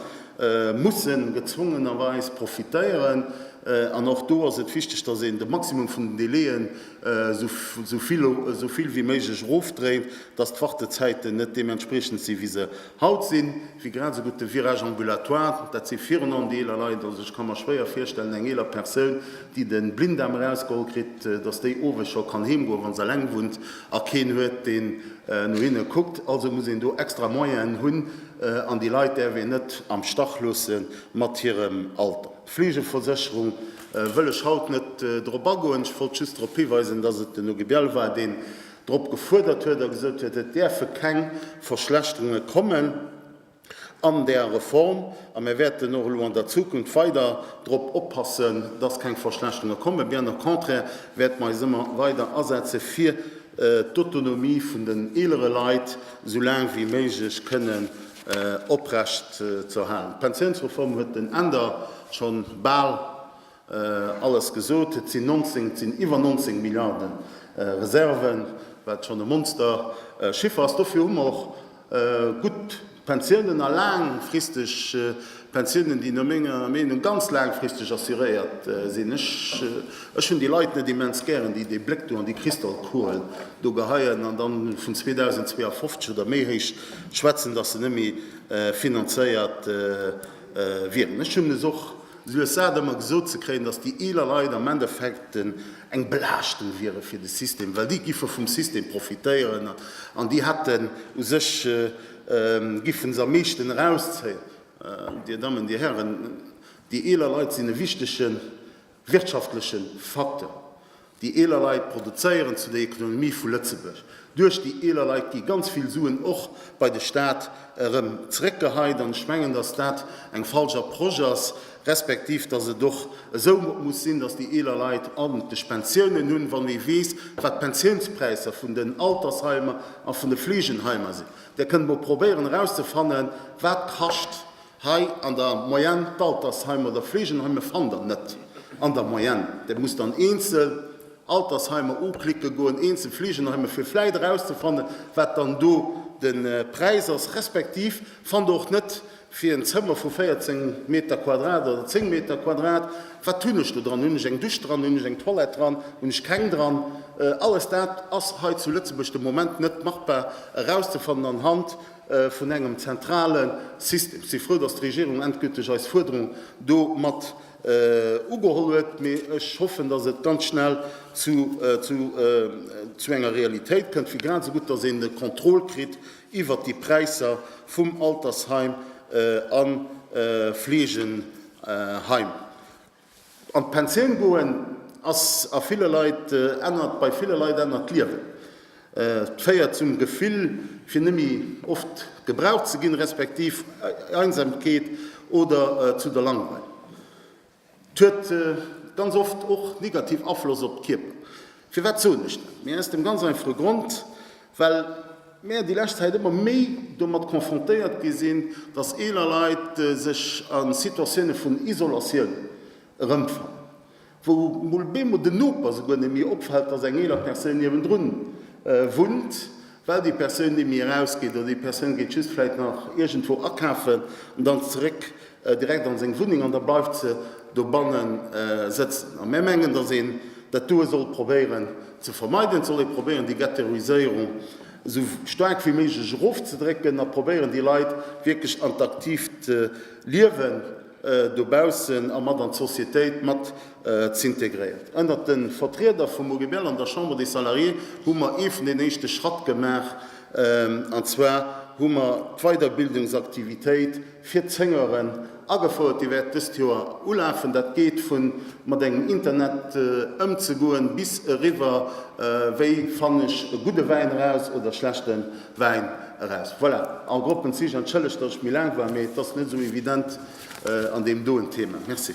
mussen gezwongenerweis profitéieren an och do ass et wichteg, dass een de Maximum vun den Délai'en esouvill wéi méiglech erofdréint, dass d'Wartezäiten net deementspriechend si wéi se haut sinn. Wéi grad esou gutt de Virage ambulatoire, dat si virun allem déi eeler Leit, also ech ka mer schwéier virstellen, eng eeler Persoun, déi de Blinddarm erausgeholl kritt, dass déi owes scho kann heem goen, wa se eleng wunnt a keen huet, deen no hinne kuckt. Also muss een do extra Moyenen hunn. An déi Leit däerf een net am Stach loosse mat hirem Alter. Fleegeversécherung wëll ech haut net drop agoen. Ech wollt just drop hiweisen, dass et den Hugues Biel war, deen drop gefuerdert huet a gesot huet, et däerfe keng Verschlechterunge kommen an där Reform. A mir wäerten och elo an der Zukunft weider drop oppassen, dass keng Verschlechterunge kommen. Bien au contraire wäerte mer eis ëmmer weider asetze fir d'Autonomie vun den eelere Leit. esou laang wéi méiglech kënnen oprecht ze erhalen. D'Pensiounsreform huet den Änder schonn bal alles gesot. Et sinn 19, et sinn iwwer 19 Milliarden Reserven, wat schonn e Monsterchiffer ass. Dofir hu mer och gutt Pensiounen a laangfristeg Pensiounen, déi no menger Meenung ganz laangfristeg assuréiert sinn. Ech hunn déi Leit net immens gären, déi dee Bléck do an déi Kristallkuel do geheien an dann vun 2052 oder méi héich schwätzen, datt se net méi finanzéiert wieren. Ech hunn es och lues sat, ëmmer gesot ze kréien, datt déi eeler Leit am Endeffekt eng Belaaschtung wiere fir de System, well déi giffe vum System profitéieren an déi hätten u sech, giffen se am meeschten erauszéien. Dir Dammen, Dir Hären, déi eeler Leit sinn e wichtege wirtschaftleche Facteur. Déi eeler Leit produzéieren zu der Ekonomie vu Lëtzebuerg. Duerch déi eeler Leit gi ganz vill Suen och bei de Staat erëm zréckgeheit. An ech mengen, dass dat eng falsch Approche ass, respektiv dass et och esou muss sinn, dass déi eeler Leit aarentlech Pensiounen hunn, wann ee weess, wat d'Pensiounspräisser vun den Altersheimer a vun de Fleegenheimer sinn. Dir kënnt mol probéieren erauszefannen wat kascht hei an der Moyenne d'Altersheim oder Fleegenheim, mir fannen der net an der Moyenne. Dir musst dann eenzel Altersheimer uklicke goen, eenzel Fleegenheimer fir vläit erauszefannen wat dann do de Präis ass, respektiv fannt der och net Fir en Zëmmer vu 14 Meter Quadrat oder 10 Meter Quadrat, wat hunn ech do dran? Hunn ech eng Dusch dran? Hunn ech eng Toilette dran? Hunn ech keng dran? Alles dat ass hei zu Lëtzebuerg de Moment net machbar erauszefannen anhand vun engem zentrale System. Si frou, datt d'Regierung endgülteg eis Fuerderung do mat ugeholl huet, mee ech hoffen, datt et ganz schnell zu enger Realitéit kënnt, fir grad esou gutt, datt een e Contrôle kritt, iwwert déi Präisser vum Altersheim a Fleegeheim an d'Pensioun goen, ass a ville Leit ännert, bei ville Leit ännert d'Liewen. Et féiert zum Gefill fir net méi oft gebraucht ze ginn, respektiv Einsamkeet oder zu der Langweil. Et huet ganz oft och negativ Afloss op de Kierper. Firwat soen ech dat? Mee aus dem ganz einfache Grond, well mär déi lescht Zäit ëmmer méi domat confrontéiert gi sinn, dass eeler Leit sech a Situatioune vun Isolatioun erëmfannen, wou mol bemol den Noper souguer net méi opfält, dass eng eeler Persoun niewendrun wunnt. Well déi Persoun némmi erausgeet oder déi Persoun geet just vläit nach iergendwou akafen an dann zeréck direkt an seng Wunneng an da bleift se dobanne sëtzen. A mär mengen, datt een dat doe sollt probéieren ze vermeiden. Et sollt ee probéieren, déi Ghettoiséierung esou staark wéi méiglech erofzedrécken a probéieren, déi Leit wierklech an d'aktiivt Liewen, dobaussen a mat an d'Societéit mat z'integréiert. Ënnert de Vertrieder vum OGBL an der Chambre des Salariés hu mer ee vun den éischte Schratt gemaach, an zwar hu mer d'Weiderbildungsaktivitéit fir d'Zéngeren agefouert. Déi wäert dëst Joer ulafen. Dat geet vu mat engem Internet ëmzegoen bis eriwwer, wéi fann ech e gudde Wäin eraus oder schlechten. Wäin eraus. Voilà, en gros den Zich. Entschëllegt, datt ech méi laang war, mee et ass net esou evident an deem doen Thema. Merci.